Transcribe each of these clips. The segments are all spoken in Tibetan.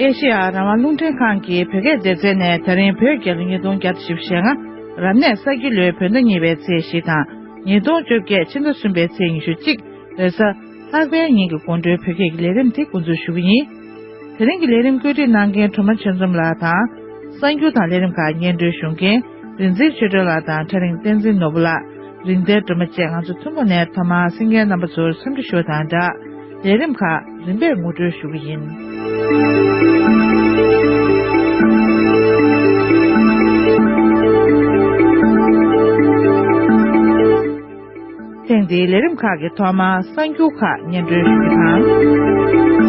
ཨེ་ཤེ་ཡ་རང་དབང་རླུང་འཕྲིན་ཁང་གིས་བོད་སྐད་བདེ་རྩའི་ནས་ད་རིང་བོད་རྒྱལ་ལོ་ཉིས་སྟོང་བརྒྱ་དང་བཞི་བཞི་ཞེ་ལྔ་རབ་གནས་གསར་སྒྱུར་ལོའི་བོད་ཟླ་གཉིས་པའི་ཚེས་བཞི་དང་ཉིས་སྟོང་བཅོ་བརྒྱད་ཕྱི་ཟླ་གསུམ་པའི་ཚེས་ཉི་ཤུ་གཅིག་བོད་ས་ལྷག་པའི་ཉིན་གྱི་དགོང་དྲོའི་བོད་སྐད་ཀྱི་ལས་རིམ་དེ་མགོ་འཛུགས་ཞུ་གི་ཡིན། དེ་རིང་གི་ལས་རིམ་བཀོད་སྒྲིག་གནང་མཁན་གྲུབ་མ་ཆོས་འཛོམས་ལགས་དང། གསར་འགྱུར་དང་ལས་རིམ་ཁག་སྙན་སྒྲོན་ཞུ་མཁན་རིན་ཚེ་ཆོས་སྒྲོན་ལགས་དང་ཁྲ་རིང་བསྟན་འཛིན་ནོར་བུ་ལགས། རིན་བདེ་སྒྲོལ་མ་བཅས་ང་ཚོ་ཐུན་མོང་ནས་ཐོག་མར་སེམས་མཁན་རྣམ་པ་ཚོར་འཚམས་འདྲི་ཞུ་བ་དང་སྦྲགས། ལས་རིམ་ཁག་རིམ་པས་ངོ་སྤྲོད་ཞུ་གི་ཡིན། ཐེངས་འདིའི་ལས་རིམ་ཁག་གི་ཐོག་མར་གསར་འགྱུར་ཁག་སྙན་སྒྲོན་ཞུ་རྒྱུ་དང།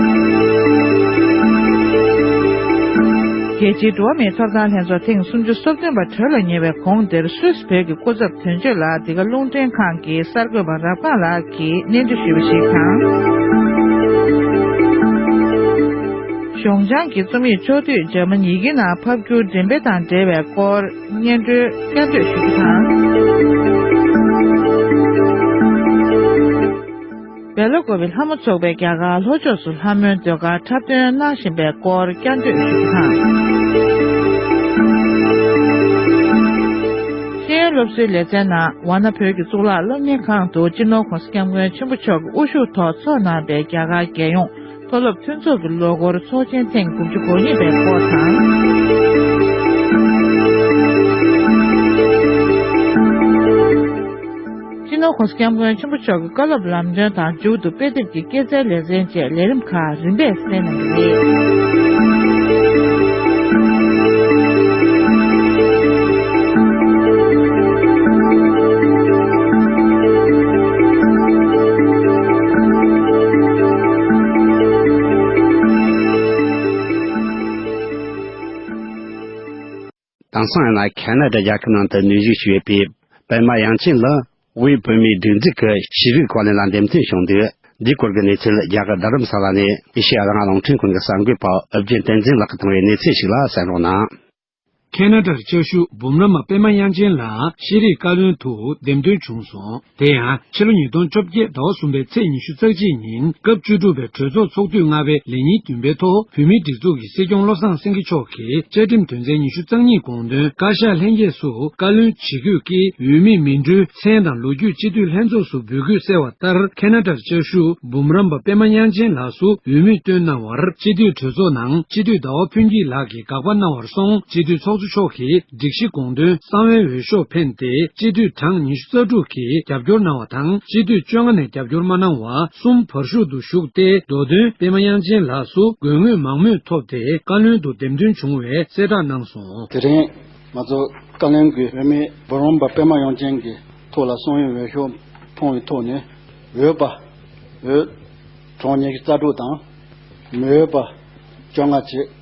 རྒྱལ་སྤྱིའི་འགྲོ་བ་མིའི་ཐོབ་ཐང་ལྷན་ཚོགས་ཐེངས་སུམ་ཅུ་སོ་བདུན་པ་གྲོལ་ལ་ཉེ་བའི་གོང་དེར་སུད་བོད་ཀྱི་སྐུ་ཚབ་དོན་གཅོད་ལགས་འདི་ག་རླུང་འཕྲིན་ཁང་གི་གསར་འགོད་པ་རབ་སྒང་ལགས་ཀྱིས་གནས་ཚུལ་ཞུས་པ་ཞིག་དང། གཞུང་བྱང་གི་རྩོམ་ཡིག་ཕྱོགས་བསྡུས་འཇར་མན་ཡི་གེ་ནང་ཕབ་བསྒྱུར་འགྲེམས་སྤེལ་དང་འབྲེལ་བའི་སྐོར། སྙན་སྒྲོན་བསྐྱར་ཟློས་ཞུ་རྒྱུ་དང། བལ་ལོ་འགོ་བའི་ལྷ་མོ་ཚོགས་པའི་རྒྱ་གར་ལྷོ་ཕྱོགས་སུ་ལྷ་མོའི་ཟློས་གར་འཁྲབ་སྟོན་གནང་བཞིན་པའི་སྐོར་བསྐྱར་ཟློས་ཞུ་རྒྱུ་དང། ཤེས་ཡོན་སློབ་གསོའི་ལེ་ཚན་ནང་ཝ་ན་བོད་ཀྱི་གཙུག་ལག་སློབ་གཉེར་ཁང་དུ་སྤྱི་ནོར ྋགོང་ས ྋསྐྱབས་མགོན་ཆེན་པོ་མཆོག་གི་དབུ་བཞུགས་ཐོག་འཚོགས་གནང་པའི་རྒྱ་གར་རྒྱལ་ཡོངས་མཐོ་སློབ་མཐུན་ཚོགས་ཀྱི་ལོ་འཁོར་ཚོགས་ཆེན་ཐེངས་དགུ་བཅུ་གོ་གཉིས་པའི་སྐོར་དང། སྤྱི་ནོར་ཁོངས་སྐྱབས་མགོན་ཆེན་པོ་མཆོག་གི་བཀའ་སློབ་ལམ་སྟོན་དང་མཇུག་ཏུ་དཔེ་དེབ་ཀྱི་སྐྱེད་ཚལ་ལེ་ཚན་བཅས་ལས་རིམ་ཁག་རིམ་པས་གསན་གནང་གི་རེད། དེང་སང་ཡང་ན་ཁ་ན་དཱ་རྒྱལ་ཁབ་ནང་དུ་ནུས་བཞུགས་ཞུས་པའི་པད་མ་དབྱངས་ཅན་ལགས་དབུས་བོད་མིའི་སྒྲིག་འཛུགས་ཀྱི་ཤེས་རིག་གོ་ལའི་ནང་འདེམས་ཐོན་བྱུང་འདུག་འདིའི་སྐོར་གྱི་གནས་ཚུལ་རྒྱ་གར་རྡ་རམ་ས་ལ་ནས་ཨེ་ཤེ་ཡ་རང་དབང་རླུང་འཕྲིན་ཁང་གི་གསར་འགོད་པ་ཨུ་རྒྱན་བསྟན་འཛིན་ལགས་ཀྱིས་བཏང་བའི་གནས་ཚུལ་ཞིག་ལ་གསན་རོགས་གནང། ཁེ་ན་ཏྲར་ལྕགས་ཤུག་འབུམ་རམས་པ་པདྨ་དབྱངས་ཅན་ལགས་ཤེས་རིག་བཀའ་བློན་དུ་འདེམས་ཐོན་བྱུང་སོང། དེ་ཡང་ཕྱི་ལོ་ཉིས་སྟོང་བཅོ་བརྒྱད་ཟླ་བ་གསུམ་པའི་ཚེས་ཉི་ཤུ་རྩ་གཅིག་ཉིན་སྐབས་བཅུ་དྲུག་པའི་གྲོས་ཚོགས་ཚོགས་དུས་ལྔ་པའི་ལས་ཉིན་བདུན་པའི་ཐོག་བོད་མིའི་སྒྲིག་འཛུགས་ཀྱི་སྲིད་སྐྱོང་བློ་བཟང་སེང་གེ་མཆོག་གིས་བཅའ་ཁྲིམས་དོན་ཚན་ཉི་ཤུ་རྩ་གཉིས་དགོངས་དོན་བཀའ་ཤག་ལྷན་རྒྱས་སུ་བཀའ་བློན་ཇི་དགོས་ཀྱིས་འོས་མི་མི་འགྲོའི་མཚན་དང་ལོ་རྒྱུས་སྤྱི་འཐུས་ལྷན་ཚོགས་སུ་འབུལ་དགོས་གསལ་བ་ལྟར་ཁེ་ན་ཏྲར་ལྕགས་ཤུག་འབུམ་རམས་པ་པདྨ་དབྱངས་ཅན་ལགས་སུ་འོས་མི་བཏོན་གནང་བར་སྤྱི་འཐུས་གྲོས་ཚོགས་ནང་སྤྱི་འཐུས་ཟླ་བ་ཕུན་སྐྱིད་ལགས་ཀྱིས། དགག་པ་གནང་བར་སོང་སྤྱི་འཐུས་ཚོགས་གཙོ་མཆོག་གིས་སྒྲིག་གཞི་དགོངས་དོན་གསང་བའི་འོས་ཤོག་འཕེན་ཏེ་སྤྱི་འཐུས་གྲངས་ཉི་ཤུ་རྩ་དྲུག་གིས་རྒྱབ་སྐྱོར་གནང་བ་དང་སྤྱི་འཐུས་བཅོ་ལྔ་ནས་རྒྱབ་སྐྱོར་མ་གནང་བ་གསུམ་བར་བཞུགས་འདུག་བཞུགས་ཏེ་མདོ་དོན་སྤེལ་མ་དབྱངས་ཅན་ལགས་སུ་དགོས་དངུལ་མང་མོས་ཐོབ་སྟེ་བཀའ་བློན་དུ་འདེམས་ཐོན་བྱུང་བའི་གསལ་བསྒྲགས་གནང་སོང། དེ་རིང་ང་ཚོ་བཀའ་བློན་དགུས་འོས་མི་འབུམ་རམས་པ་སྤེལ་མ་དབྱངས་ཅན་གྱི་ཐུགས་ལ་སོང་ཡུལ་འོས་ཤོག་འཕོངས་བའི་ཐོག་ནས་འོས་པ་འོས་གྲོངས་ཉི་ཤུ་རྩ་དྲུག་དང་མི་འོས་པ་བཅོ་ལྔ་བྱེད།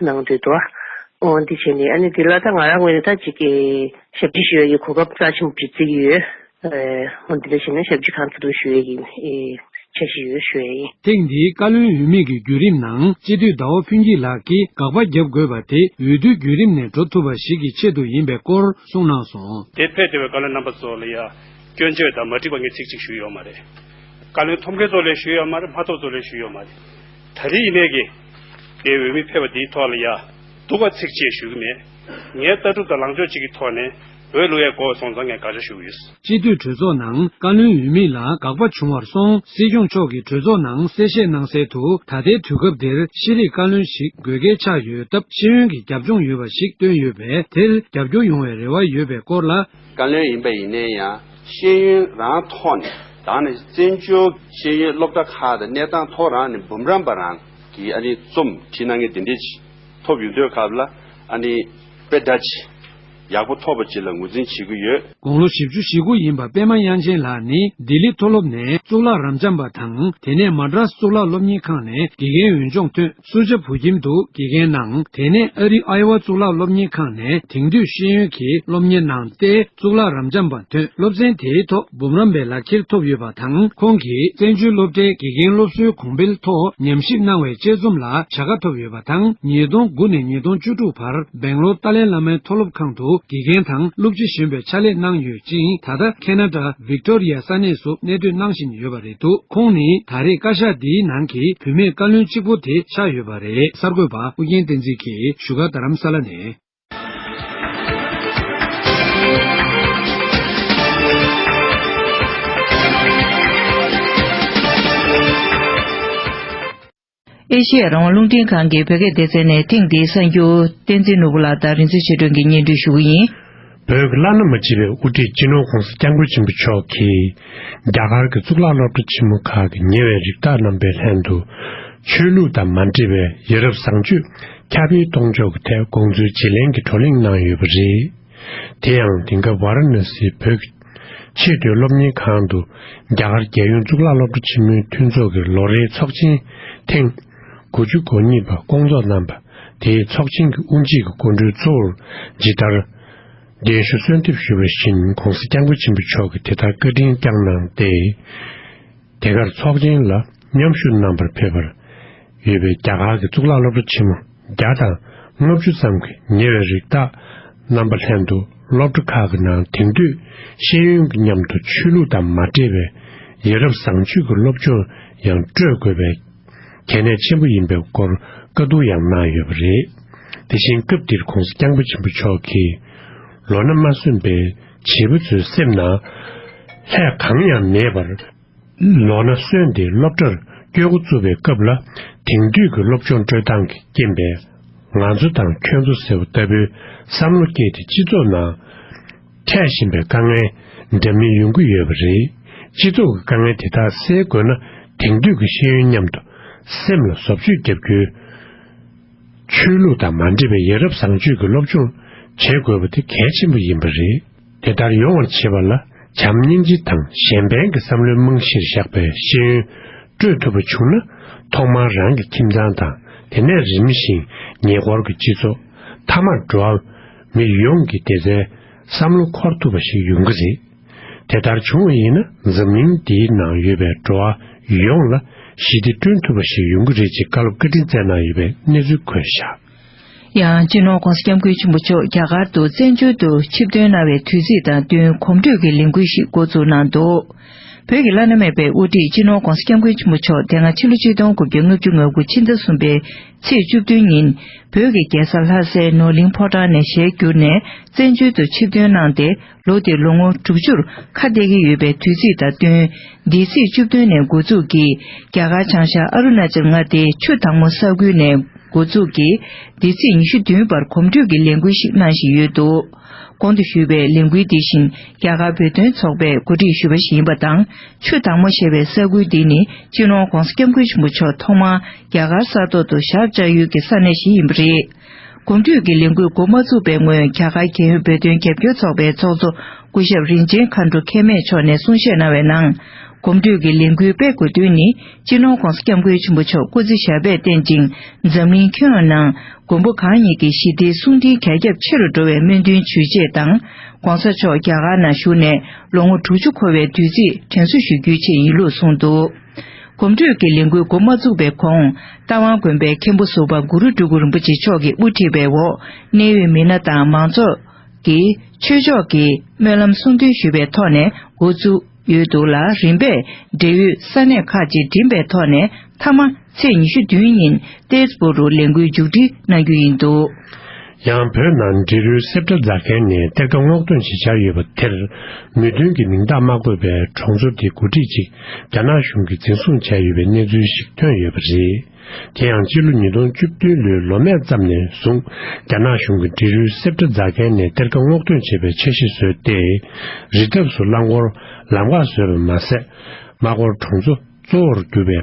གནང་འདོད་དོ། འོན་ཏེ་བྱས་ནས་ཨ་ནི་དེ་ལ་ད་ང་རང་ངོས་ནས་ད་ཅིག་ཞབས་ཕྱི་ཞུ་ཡ་ཡི་གོ་སྐབས་རྩ་ཆེན་པོ་ཞིག་བརྩིགས་ཡོད། འོན་ཏེ་ད་བྱས་ནས་ཞབས་ཕྱི་གང་ཐུབ་ཐུབ་ཞུ་ཡ་ཡིན། བྱ་བཞིན་ཡོད་ཞུ་ཡ་ཡིན། ཐེངས་འདིའི་བཀའ་བློན་འོས་མིག་གི་བརྒྱུད་རིམ་ནང་སྤྱི་འཐུས་ཟླ་བ་ཕུན་སྐྱིད་ལགས་ཀྱིས་དགག་པ་བརྒྱབ་དགོས་པ་དེ་འོས་བསྡུའི་བརྒྱུད་རིམ་ནས་འགྲོ་ཐུབ་པ་ཞིག་གི་ཆེད་དུ་ཡིན་པའི་སྐོར་གསུངས་གནང་སོང། དེ་ཕལ་དེ་བས་བཀའ་བློན་རྣམ་པ་ཚོ་ལ་ཡ་སྐྱོན་བརྗོད་དང་མ་འགྲིག་པ་ངས་ཚིག་གཅིག་ཞུ་ཡོད་མ་རེད། བཀའ་བློན་ཐོབ་མཁན་ཚོ་ལས་ཞུ་ཡོད་མ་རེད་མ་ཐོབ་ཚོ་ལས་ཞུ་ཡོད་མ་རེད། ད་རེས་ཡིན་མེད་ཀྱི་དེའི་འོས་མི་ཕེབས་པ་འདིའི་ཐོག་ལ་ཡ་འདུག་པ་ཚིག་གཅིག་ཞུ་གི་མེད། ངའི་ལྟ་གྲུབ་དང་ལངས་ཕྱོགས་གཅིག་གི་ཐོག་ནས་འོས་བླུག་ཡ་འགོག་སོང་ཙང་ངས་དགག་བྱ་ཞུ་གི་ཡོད། སྤྱི་འཐུས་གྲོས་ཚོགས་ནང་བཀའ་བློན་འོས་མི་ལ་དགག་པ་བྱུང་བར་སོང་སྲིད་སྐྱོང་མཆོག་གིས་གྲོས་ཚོགས་ནང་གསལ་བཤད་གནང་གསལ་དུ་ད་ལྟའི་དུས་སྐབས་འདིར་ཤེས་རིག་བཀའ་བློན་ཞིག་དགོས་གལ་ཆགས་ཡོད་སྟབས་ཤེས་ཡོན་གྱི་རྒྱབ་ལྗོངས་ཡོད་པ་ཞིག་བཏོན་ཡོད་པས་དེར་རྒྱབ་སྐྱོར་ཡོང་བའི་རེ་བ་ཡོད་པའི་སྐོར་ལ། བཀའ་བློན་ཡིན་པ་ཡིན་ནའི་ཡང་ཤེས་ཡོན་རང་ཐོག་ནས་དང་ནས་བཙན་བྱོལ་ཤེས་ཡོན་སློབ་གྲྭ་ཁག་དང་གནས་སྟངས་ཐོག་རང་ནས་འབུམ་རམས་པ་རང་གིས་ཨ་ནི་རྩོམ་བྲིས་གནང་མཁན་དེ་འདྲས་ཅིག་ཐོབ་ཡོད་འདོད་སྐབས་ལ་ཨ་ནི་དཔེ་དག་ཅིག་ཡག་པོ་ཐོབ་པ་ཅིག་ལ་ངོས་འཛིན་བྱེད་ཀྱི་ཡོད། དགུང་ལོ་བཞི་བཅུ་བཞི་དགུ་ཡིན་པ་པད་མ་དབྱངས་ཅན་ལགས་ནི་ལྡི་ལི་མཐོ་སློབ་ནས་གཙུག་ལག་རམས་འབྱམས་པ་དང་དེ་ནས་མཱ་ཀྲཱས་གཙུག་ལག་སློབ་གཉེར་ཁང་ནས་དགེ་རྒན་འོས་སྦྱོང་ཐོན། སུ་ཇཱ་བུ་ཁྱིམ་དུ་དགེ་རྒན་གནང། དེ་ནས་ཨ་རིའི་ཨའེ་ཝཱ་གཙུག་ལག་སློབ་གཉེར་ཁང་ནས་དེང་དུས་ཤེས་ཡོན་གྱི་སློབ་གཉེར་གནང་སྟེ་གཙུག་ལག་རམ་འབྱམས་པ་ཐོན་སློབ་ཚན་དེའི་ཐོག་འབུམ་རམས་པའི་ལག་ཁྱེར་ཐོབ་ཡོད་པ་དང་ཁོང་གིས་བཙན་བྱོལ་སློབ་གྲྭའི་དགེ་རྒན་སློབ་གསོའི་གོང་འཕེལ་ཐོག་ཉམས་ཞིབ་གནང་བའི་དཔྱད་རྩོམ་ལ་བྱ་དགའ་ཐོབ་ཡོད་པ་དང་ཉིས་སྟོང་དགུ་ནས་ཉིས་སྟོང་བཅུ་དྲུག་བར་སྦེང་ལོར་ཏཱ་ལའི་བླ་མའི་མཐོ་སློབ་ཁང་དུ་དགེ་རྒན་དང་སློབ་སྤྱི་གཞོན་པའི་ཕྱག་ལས་གནང་ཡོད་ཅིང་ད་ལྟ Canada Victoria ས་གནས་སུ་གནས་སྡོད་གནང་བཞིན་ཡོད་པ་རེད། འདུག་ཁོང་ནི་ད་རེས་བཀའ་ཤག་འདིའི་ནང་གི་བུད་མེད་བཀའ་བློན་གཅིག་པོ་དེ་ཆགས་ཡོད་པ་རེད། གསར་འགོད་པ་ཨུ་རྒྱན་བསྟན་འཛིན་གྱིས་བཞུགས་སྒར་རྡ་རམ་ས་ལ་ནས། ཨེ་ཤེ་ཡ་རང་དབང་རླུང་འཕྲིན་ཁང་གིས་བོད་སྐད་བདེ་རྩལ་ནས་ཐེངས་འདིའི་གསར་འགྱུར། བསྟན་འཛིན་ནོར་བུ་ལགས་དང་རིན་ཆེན་ཆོས་སྒྲོན་གྱི་སྙན་སྒྲོན་ཞུ་གི་ཡིན། བོད་ཀྱི་བླ་ན་མ་མཆིས་པའི་དབུ་ཁྲིད་སྤྱི་ནོར་ཁོང་སི་སྐྱབས་མགོན་ཆེན་པོ་མཆོག་གིས། རྒྱ་གར་གྱི་གཙུག་ལག་སློབ་གྲྭ་ཆེན་མོ་ཁག་གི་ཉེ་བའི་རིགས་བདག་རྣམ་པའི་ལྷན་དུ། ཆོས་ལུགས་དང་མ་འདྲེས་པའི་ཡ་རབས་བཟང་སྤྱོད་ཁྱབ་སྤེལ་གཏོང་ཕྱོགས་ཀྱི་ཐད་དགོངས་ཚུལ་བརྗེ་ལེན་གྱི་བགྲོ་གླེང་གནང་ཡོད་པ་རེད། དེ་ཡང་དེང་སྐབས་བཱ་ར་ན་སིའི་བོད་ཀྱི། ཆེས་མཐོའི་སློབ་གཉེར་ཁང་དུ་རྒྱ་གར་རྒྱལ་ཡོངས་གཙུག་ལག་སློབ་གྲྭ་ཆེན་མོའི་མཐུན་ཚོགས་ཀྱི་ལོ་རེའི་ཚོགས་ཆེན་ཐེངས་དགུ་བཅུ་གོ་གཉིས་པ་སྐོང་ཚོགས་གནང་པ་དེའི་ཚོགས་ཆེན་གྱི་དབུ་འབྱེད་ཀྱི་སྐུ་མགྲོན་གཙོ་བོར་ཇི་ལྟར་གདན་ཞུ་གསོལ་འདེབས་ཞུས་པ་བཞིན ྋགོང་ས ྋསྐྱབས་མགོན་ཆེན་པོ་མཆོག་གིས་དེ་ལྟར་བཀའ་དྲིན་བསྐྱངས་གནང་སྟེ། དེ་གར་ཚོགས་ཆེན་ལ་མཉམ་ཞུགས་གནང་པར་ཕེབས་པར་ཡོད་པའི་རྒྱ་གར་གྱི་གཙུག་ལག་སློབ་གྲྭ་ཆེན་མོ། བརྒྱ་དང་ལྔ་བཅུ་ཙམ་གྱི་ཉེ་བའི་རིགས་བདག་རྣམ་པ་ལྷན་དུ་སློབ་གྲྭ་ཁག་གི་ནང་དེང་དུས་ཤེས་ཡོན་གྱི་མཉམ་དུ་ཆོས་ལུགས་དང་མ་འདྲེས་པའི་ཡིད་རབ་བཟང་སྤྱོད་ཀྱི་སློབ་སྦྱོང་ཡང་སྤྲོད་དགོས་པའི་གལ་གནད་ཆེན་པོ་ཡིན་པའི་སྐོར་བཀའ་བསྡུར་ཡང་གནང་ཡོད་པ་རེད། དེ་བཞིན་སྐབས་འདིར ྋགོང་ས ྋསྐྱབས་མགོན་ཆེན་པོ་མཆོག་གིས་ལོ་ན་མ་སོན་པའི་བྱིས་པ་ཚོའི་སེམས་ནང་ལྷད་གང་ཡང་མེད་པར། ལོ་ན་སོན་ཏེ་སློབ་གྲྭར་སྐྱོད་འགོ་བཙུགས་པའི་སྐབས་ལ་དེང་དུས་ཀྱི་སློབ་སྦྱོང་སྤྲོད་སྟངས་ཀྱི་རྐྱེན་པས་ང་ཚོ་དང་ཁྱོད་ཚོ་ཟེར་བ་ལྟ་བུའི་བསམ་བློ་སྐྱེས་ཏེ་སྤྱི་ཚོགས་ནང་འཕྲད་བཞིན་པའི་དཀའ་ངལ་འདྲ་མིན་ཡོང་གི་ཡོད་པ་རེད། སྤྱི་ཚོགས་ཀྱི་དཀའ་ངལ་དེ་དག་སེལ་དགོས་ན་དེང་དུས་ཀྱི་ཤེས་ཡོན་མཉམ་དུ་སེམས་ལ་བཟོ་བཅོས་བརྒྱབ་རྒྱུའི་ཆོས་ལུགས་དང་མ་འདྲེས་པའི་ཡ་རབས་བཟང་སྤྱོད་ཀྱི་སློབ་སྦྱོང་བྱེད་དགོས་པ་དེ་གལ་ཆེན་པོ་ཡིན་པ་རེད། དེ་ལྟར་ཡོང་བར་བྱེད་པ་ལ་བྱམས་སྙིང་རྗེ་དང་གཞན་ཕན་གྱི་བསམ་བློའི་རྨང་གཞིར་བཞག་པའི་ཤེས་ཡོན་སྤྲོད་ཐུབ་པ་བྱུང་ན། ཐོག་མར་རང་གི་ཁྱིམ་ཚང་དང་དེ་ནས་རིམ་བཞིན་ཉེ་འཁོར་གྱི་སྤྱི་ཚོགས། མཐའ་མར་འགྲོ་བ་མི་ཡོངས་ཀྱི་བདེ་རྩའི་བསམ་བློ་འཁོར་ཐུབ་པ་ཞིག་ཡོང་གི་རེད། དེ་ལྟར་བྱུང་བ་ཡིན་ན་འཛམ་གླིང་འདིའི་ནང་ཡོད་པའི་འགྲོ་བ་ཡོངས་ལ་ཞི་བདེ་བསྐྲུན་ཐུབ་པ་ཞིག་ཡོང་གི་རེད་ཅེས་བཀའ་སློབ་བཀའ་དྲིན་སྩལ་གནང་ཡོད་པའི་གནས་ཚུལ་འཁོད་བཞག། ཡང་སྤྱི་ནོར ྋགོང་ས ྋསྐྱབས་མགོན་ཆེན་པོ་མཆོག་རྒྱ་གར་དུ་བཙན་བྱོལ་དུ་ཆིབས་བསྟོན་གནང་བའི་དུས་ཚིགས་དང་བསྟུན་གོམ་བགྲོད་ཀྱི་ལས་འགུལ་ཞིག་འགོ་འཛུགས་གནང་འདུག་བོད་ཀྱི་བླ་ན་མེད་པའི་དབུ་ཁྲིད་སྤྱི་ནོར ྋགོང་ས ྋསྐྱབས་མགོན་ཆེན་པོ་མཆོག་དེ་སྔ་ཕྱི་ལོ་གཅིག་སྟོང་དགུ་བརྒྱ་ལྔ་བཅུ་ང་དགུ་ཕྱི་ཟླ་གསུམ་པའི་ཚེས་བཅུ་བདུན་ཉིན་བོད་ཀྱི་རྒྱལ་ས་ལྷ་སའི་ནོར་གླིང་ཕོ་བྲང་ནས་ཞལ་བསྒྱུར་ནས་བཙན་བྱོལ་དུ་ཆིབས་བསྟོན་གནང་སྟེ་ལོ་དེ་ལོ་ངོ་དྲུག་ཅུར་ཁ་གཏད་ཀྱི་ཡོད་པའི་དུས་ཚིགས་དང་བསྟུན། འདས་ཚེས་བཅུ་བདུན་ནས་འགོ་འཛུགས་ཀྱིས་རྒྱ་གར་བྱང་ཤར་ཨ་རུ་ན་ཅལ་མངའ་སྡེའི་ཆུ་དྭངས་མོ་ས་ཁུལ་ནས་འགོ་འཛུགས་ཀྱིས་འདས་ཚེས་ཉི་ཤུ་བདུན་བར་གོམ་བགྲོད་ཀྱི་ལས་འགུལ་ཞིག་གནང་བཞིན་ཡོད་འདུག་གོང་དུ་ཞུས་པའི་ལས་འགུལ་འདི་བཞིན་རྒྱ་གར་བོད་དོན་ཚོགས་པས་གོ་སྒྲིག་ཞུས་པ་ཞིག་ཡིན་པ་དང་ཆུ་དྭངས་མོ་ཞེས་པའི་ས་ཁུལ་འདི་ནི་ཅི་ལོང ྋགོང་ས ྋསྐྱབས་མགོན་ཆེན་པོ་མཆོག་ཐོག་མར་རྒྱ་གར་ས་ཐོག་ཏུ་ཞག་བཅའ་ཡུལ་གྱི་ས་གནས་ཤིག་ཡིན་པ་རེད། དགུན་དུས་ཀྱི་ལས་འགུལ་འགོ་མ་བཙུགས་པའི་སྔོན་རྒྱ་གར་རྒྱལ་ཡོངས་བོད་དོན་རྒྱབ་སྐྱོར་ཚོགས་པའི་ཚོགས་གཙོ་སྐུ་ཞབས་རིན་ཆེན་མཁའ་འགྲོ་མཁས་མེད་མཆོག་ནས་གསུང་བཤད་གནང་བའི་ནང། གོམ་བགྲོད་ཀྱི་ལས་འགུལ་སྤེལ་དགོས་དོན་ནི་སྤྱི་ནོར ྋགོང་ས ྋསྐྱབས་མགོན་ཆེན་པོ་མཆོག་སྐུ་ཚེ་ཞབས་པད་བརྟན་ཅིང་འཛམ་གླིང་ཁྱོན་ཡོངས་ནང་མགོན་པོ་གང་ཉིད་ཀྱི་ཞི་བདེའི་གསུང་འཕྲིན་གྱ་ཁྱབ་ཆེ་རུ་འགྲོ་བའི་སྨོན་འདུན་ཞུ་ཆེད་དང ྋགོང་ས་མཆོག་རྒྱ་གར་ནང་བཞུགས་ནས་ལོ་ངོ་དྲུག་ཅུ་འཁོར་བའི་དུས་ཚིགས་དྲན་གསོ་ཞུ་རྒྱུའི་ཆེད་ཡིན་ལུགས་གསུངས་འདུག། གོམ་བགྲོད་ཀྱི་ལས་འགུལ་འགོ་མ་བཙུགས་པའི་གོང་རྟ་དབང་དགོན་པའི་མཁན་པོ་ཟུར་པ་གུ་རུ་སྤྲུལ་སྐུ་རིན་པོ་ཆེ་མཆོག་གི་དབུ་ཁྲིད་པའི་འོག་གནད་ཡོད་མི་སྣ་དང་མང་ཚོགས་ཀྱིས་ཆོས་ཕྱོགས་ཀྱི་སྨོན་ལམ་གསུང་འདོན་ཞུས་པའི་ཐོག་ནས་འགོ་བཙུགས་ཡོད་འདུག་ལ་རིམ་པས་འབྲེལ་ཡོད་ས་གནས་ཁག་ཅིག་འགྲིམས་པའི་ཐོག་ནས་མཐའ་མ་ཚེས་ཉི་ཤུ་བདུན་ཉིན་ཏེས་པོ་རུ་ལས་འགུལ་མཇུག་སྒྲིལ་གནང་རྒྱུ་ཡིན་འདུག། ཡང་བོད་ནང་འབྲི་རུའི་གསེབ་ཏུ་རྫ་མཁན་ནས་གཏེར་ཁ་སྔོག་འདོན་བྱེད་འཆར་ཡོད་པ་དེར། མོས་མཐུན་གྱི་མིང་རྟགས་མ་བཀོད་པའི་གྲོང་ཚོ་དེ་འགོ་ཁྲིད་ཅིག་རྒྱ་ནག་གཞུང་གིས་འཛིན་བཟུང་བྱས་ཡོད་པའི་གནས་ཚུལ་ཞིག་ཐོན་ཡོད་པ་རེད། དེ་ཡང་ཕྱི་ལོ་ཉིས་སྟོང་བཅུ་བདུན་ལོའི་ལོ་སྨད་ཙམ་ནས་བཟུང་རྒྱ་ནག་གཞུང་གིས་འབྲི་རུའི་གསེབ་ཏུ་རྫ་མཁན་ནས་གཏེར་ཁ་སྔོག་འདོན་བྱེད་པའི་འཆར་གཞི་བཟོས་ཏེ། རི་འདབས་སུ་རླངས་འཁོར་ལམ་ཁ་བཟོས་པ་མ་ཟད། མ་ཀོར་གྲོང་ཚོ། གཙོ་བོར་གྱུར་པའི་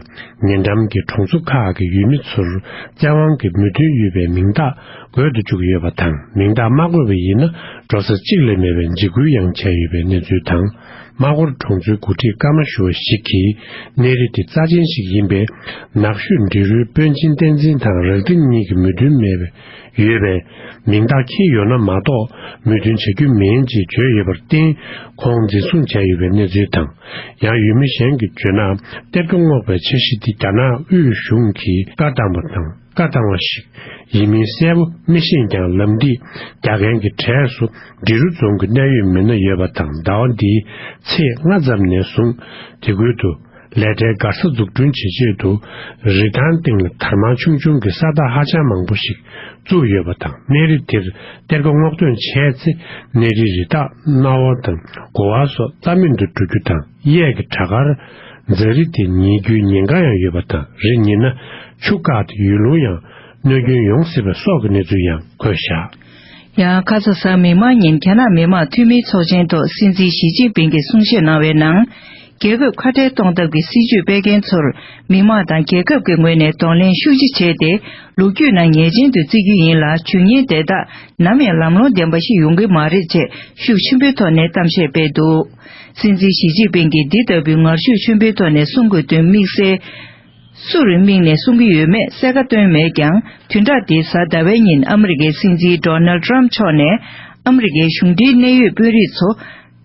ཉེ་འགྲམ་གྱི་གྲོང་ཚོ་ཁག་གི་ཡུལ་མི་ཚོར་བཙན་དབང་གིས་མོས་མཐུན་ཡོད་པའི་མིང་རྟགས་འགོད་དུ་བཅུག་ཡོད་པ་དང་མིང་རྟགས་མ་འགོད་པ་ཡིན་ན་འགྲོ་ས་གཅིག་ལས་མེད་པའི་འཇིགས་སྐུལ་ཡང་བྱས་ཡོད་པའི་གནས་ཚུལ་དང། རྨ་སྐོར་གྲོང་ཚོའི་འགོ་ཁྲིད་ཀརྨ་ཞུ་བ་ཞིག་གིས་གནས་རི་དེ་རྩ་ཆེན་ཞིག་ཡིན་པས་ནགས་ཤོད་འབྲི་རུའི་དཔོན་ཆེན་བསྟན་འཛིན་དང་རག་དྲི་གཉིས་ཀྱི་མོས་མཐུན་མེད་པའི་ཡོད་པས། མིང་རྟགས་ཁྱེར་ཡོད་ན་མ་གཏོགས་མོས་མཐུན་བྱ་རྒྱུ་མིན་ཅེས་བརྗོད་ཡོད་པར་བརྟེན། ཁོང་འཛིན་བཟུང་བྱས་ཡོད་པའི་གནས་ཚུལ་དང། ཡང་ཡུལ་མི་གཞན་གྱིས་བརྗོད་ན་གཏེར་ཁ་སྔོག་པའི་འཆར་གཞི་དེ་རྒྱ་ནག་དབུས་གཞུང་གིས་བཀའ་བཏང་བ་དང་བཀའ་བཏང་བ་ཞིག་ཡིན་མིན་གསལ་པོ་མི་ཤེས་ཀྱང་ལམ་འདི་རྒྱག་མཁན་གྱི་གྲས་སུ་འབྲི་རུ་རྫོང་གི་གནད་ཡོད་མི་སྣ་ཡོད་པ་དང་ཟླ་བ་འདིའི་ཚེས་ལྔ་ཙམ་ནས་བཟུང་དེ་ཁུལ་དུ། ལས་གྲྭའི་སྒར་ས་འཛུགས་སྐྲུན་བྱེད་ཆེད་དུ་རི་ཐང་སྟེང་ལ་དར་དམར་ཆུང་ཆུང་གི་ས་རྟགས་ཧ་ཅང་མང་པོ་ཞིག་བཙུགས་ཡོད་པ་དང་གནས་རི་དེར་གཏེར་ཁ་སྔོག་འདོན་བྱས་ཚེ་གནས་རིའི་རི་དྭགས་གནའ་བ་དང་དགོ་བ་སོགས་རྩ་མེད་དུ་འགྲོ་རྒྱུ་དང་གཡས་ཀྱི་བྲག་དཀར་རྫ་རི་དེ་ཉིལ་རྒྱུའི་ཉེན་ཁ་ཡང་ཡོད་པ་དང་རི་ཉིལ་ན་ཆུ་བཀག་སྟེ་ཡུལ་ལུང་ཡང་གནོད་སྐྱོན་ཡོང་སྲིད་པ་སོགས་ཀྱི་གནས་ཚུལ་ཡང་བཀོད་བཞག། ཡང་ཁ་སང་གཟའ་མིག་དམར་ཉིན་རྒྱ་ནག་མི་དམངས་འཐུས་མིའི་ཚོགས་ཆེན་ཐོག་སྲིད་འཛིན་ཞི་ཅིན་ཕིང་གིས་གསུང་བཤད་གནང་བའི་ནང། རྒྱལ་ཁབ་ཁ་བྲལ་གཏོང་ཐབས་ཀྱི་སྲིད་ཇུས་སྤེལ་མཁན་ཚོར་མི་དམངས་དང་རྒྱལ་ཁབ་ཀྱི་ངོས་ནས་གདོང་ལེན་ཤུགས་ཆེ་བྱས་ཏེ་ལོ་རྒྱུས་ནང་ངེས་ཅན་དུ་བརྩི་རྒྱུ་ཡིན་ལ་ཇུས་ངན་དེ་དག་ནམ་ཡང་ལམ་ལྷོང་ལྡན་པ་ཞིག་ཡོང་གི་མ་རེད་ཅེས་ཤུགས་ཆེན་པོའི་ཐོག་ནས་གཏམ་བཤད་སྤེལ་འདུག་སྲིད་འཛིན་ཞི་ཅིན་ཕིང་གིས་འདི་ལྟ་བུའི་ངར་ཤུགས་ཆེན་པོའི་ཐོག་ནས་གསུང་དགོས་དོན་དམིགས་བསལ། སུ་རེ་དམིགས་ནས་གསུང་གི་ཡོད་མེད་གསལ་ཁ་བཏོན་མེད་ཀྱང་དུས་དག་འདི་གཟའ་ཟླ་བའི་ཉིན་ཨ་མི་རི་ཀའི་སྲིད་འཛིན Donald Trump མཆོག་ནས་ཨ་མི་རི་ཀའི་གཞུང་འབྲེལ་གནད་ཡོད་དཔོན་རིགས་ཚོ་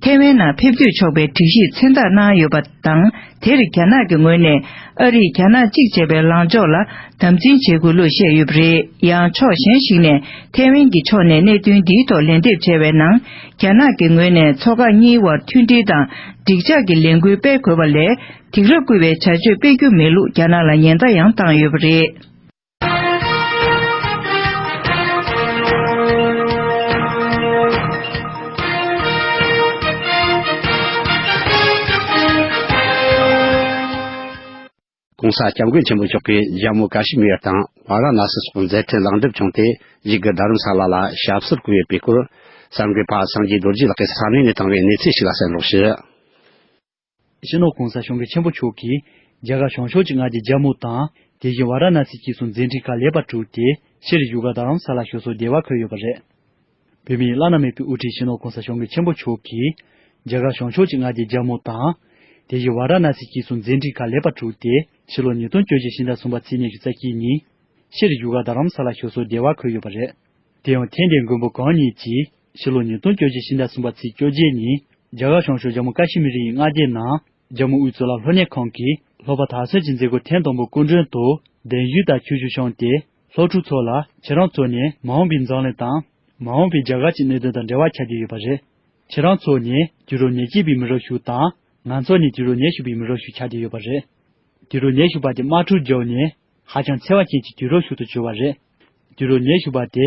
ཐེ་ཝན་ནང་ཕེབས་སྡོད་ཆོག་པའི་སྒྲིག་གཞི་མཚན་རྟགས་གནང་ཡོད་པ་དང་དེར་རྒྱ་ནག་གི་ངོས་ནས་ཨ་རིས་རྒྱ་ནག་གཅིག་བྱས་པའི་ལངས་ཕྱོགས་ལ་དམ་འཛིན་བྱེད་དགོས་ལུགས་བཤད་ཡོད་པ་རེད་ཡང་ཕྱོགས་གཞན་ཞིག་ནས་ཐེ་ཝན་གྱི་ཕྱོགས་ནས་གནད་དོན་འདིའི་ཐོག་ལན་འདེབས་བྱས་བའི་ནང་རྒྱ་ནག་གི་ངོས་ནས་ཚོགས་ཁག་གཉིས་དབར་མཐུན་སྒྲིལ་དང་འགྲིག་འཇགས་ཀྱི་ལས་འགུལ་སྤེལ་དགོས་པ་ལས་དེང་རབས་བསྐུལ་བའི་བྱ་སྤྱོད་སྤེལ་རྒྱུ་མེད་ལུགས་རྒྱ་ནག་ལ་ཉེན་བརྡ་ཡང་བཏང་ཡོད་པ་རེད། ྋགོང་ས ྋསྐྱབས་མགོན་ཆེན་པོ་མཆོག་གིས་ལྗང་མོ་ཀཱ་ཤི་མིར་དང་བྷ་ར་ནཱ་སི་སོགས་མཛད་འཕྲིན་ལེགས་འགྲུབ་བྱུང་སྟེ་གཞིས་ཀ་རྡ་རམ་ས་ལ་ལ་ཞབས་སོར་བཀུར་བའི་དཔེ་བཀོད། གསར་འགོད་པ་སངས་རྒྱས་རྡོ་རྗེ་ལགས་ཀྱིས་ས་གནས་ནས་བཏང་བའི་གནས་ཚུལ་ཞིག་ལ་གསན་སློག་བྱས། ཕྱི་ནང་གང་སར་ཞུང་གི་ཆེན་པོ་མཆོག་གིས། རྒྱ་གར་བྱང་ཕྱོགས་ཀྱི་སྔགས་ཀྱི་རྒྱལ་མོ་དང། དེ་བཞིན་བ་ར་ན་སི་སྐྱིད་སོགས་མཛད་འཕྲིན་ཁག་ལེགས་པར་གྲུབ་སྟེ་ཕྱིར་བཞུགས་སྒར་རྡ་རམ་ས་ལར་ཞུ་སོགས་བདེ་བར་འཁོད་ཡོད་པ་རེད། བོད་མིའི་བླ་ན་མེད་པའི་དབུ་ཁྲིད་ཕྱི་ནང་གང་སར་ཞུང་གི་ཆེན་པོ་མཆོག་གིས། རྒྱ་གར་བྱང་ཕྱོགས་ཀྱི་སྔགས་ཀྱི་རྒྱལ་མོ་དང། དེ་བཞིན་བ་ར་ན་སི་སྐྱིད་སོགས་མཛད་འཕྲིན་ཁག་ལེགས་པར་གྲུབ་སྟེ་ཕྱི་ལོ་ཉིས་སྟོང་བཅོ་བཞི་ཕྱི་ཟླ་གསུམ་པ་ཚེས་ཉེར་བཞི་རྩ་དཀྱིལ་ཉིན། ཕྱིར་བཞུགས་སྒར་རྡ་རམ་ས་ལར་ཞུ་སོགས་བདེ་བར་འཁོད་ཡོད་པ་རེད། དེ་ཡང་ཐེངས་འདིའི་མགོན་པོ་གང་ཉིད་ཀྱིས། ཕྱི་ལོ་ཉིས་སྟོང་བཅོ་བརྒྱད་ཕྱི་ཟླ་གསུམ་པ་ཚེས་བཅོ་བརྒྱད་ཉིན། རྒྱ་གར་གཤོང་ཤོར་རྒྱ་མོ་ཀ་ཤི་མི་རི་ཡི་མངའ་སྡེའི་ནང། རྒྱ་མོ་དབུས་གཙུག་ལག་ལྷོ་གནས་ཁང་གིས་ལྷོ་པ་དར་སྲོལ་གྱི་མཛད་སྒོ་ཐེངས་དང་པོ་སྐུ་མགྲོན་དུ། གདན་ཞུས་དང་ཁྱོ་ཤུག་བཤམས་ཏེ། ལྷོ་ཕྲུག་ཚོ་ལ་ཁྱེད་རང་ཚོ་ནི་མ་འོངས་པའི་འཛམ་གླིང་དང། མ་འོངས་པའི་རྒྱ་གར་གྱི་གནད་དོན་དང་འབྲེལ་བ་ཆགས་ཀྱི་ཡོད་པ་རེད། ཁྱེད་རང་ཚོ་ནི་དུས་རབས་ཉེར་གཅིག་པའི་མི་རབས་ཤིག་དང། ང་ཚོ་ནི་དུས་རབས་ཉེར་བཞི་པའི་མི་རབས་ཤིག་ཆགས་ཀྱི་ཡོད་པ་རེད། དུས་རབས་ཉེར་བཞི་པ་དེ་དམག་འཁྲུག་བརྒྱུད་ནས། ཧ་ཅང་འཚེ་བ་ཅན་གྱི་དུས་རབས་ཤིག་ཏུ་གྱུར་བ་རེད། དུས་རབས་ཉེར་བཞི་པ་དེ་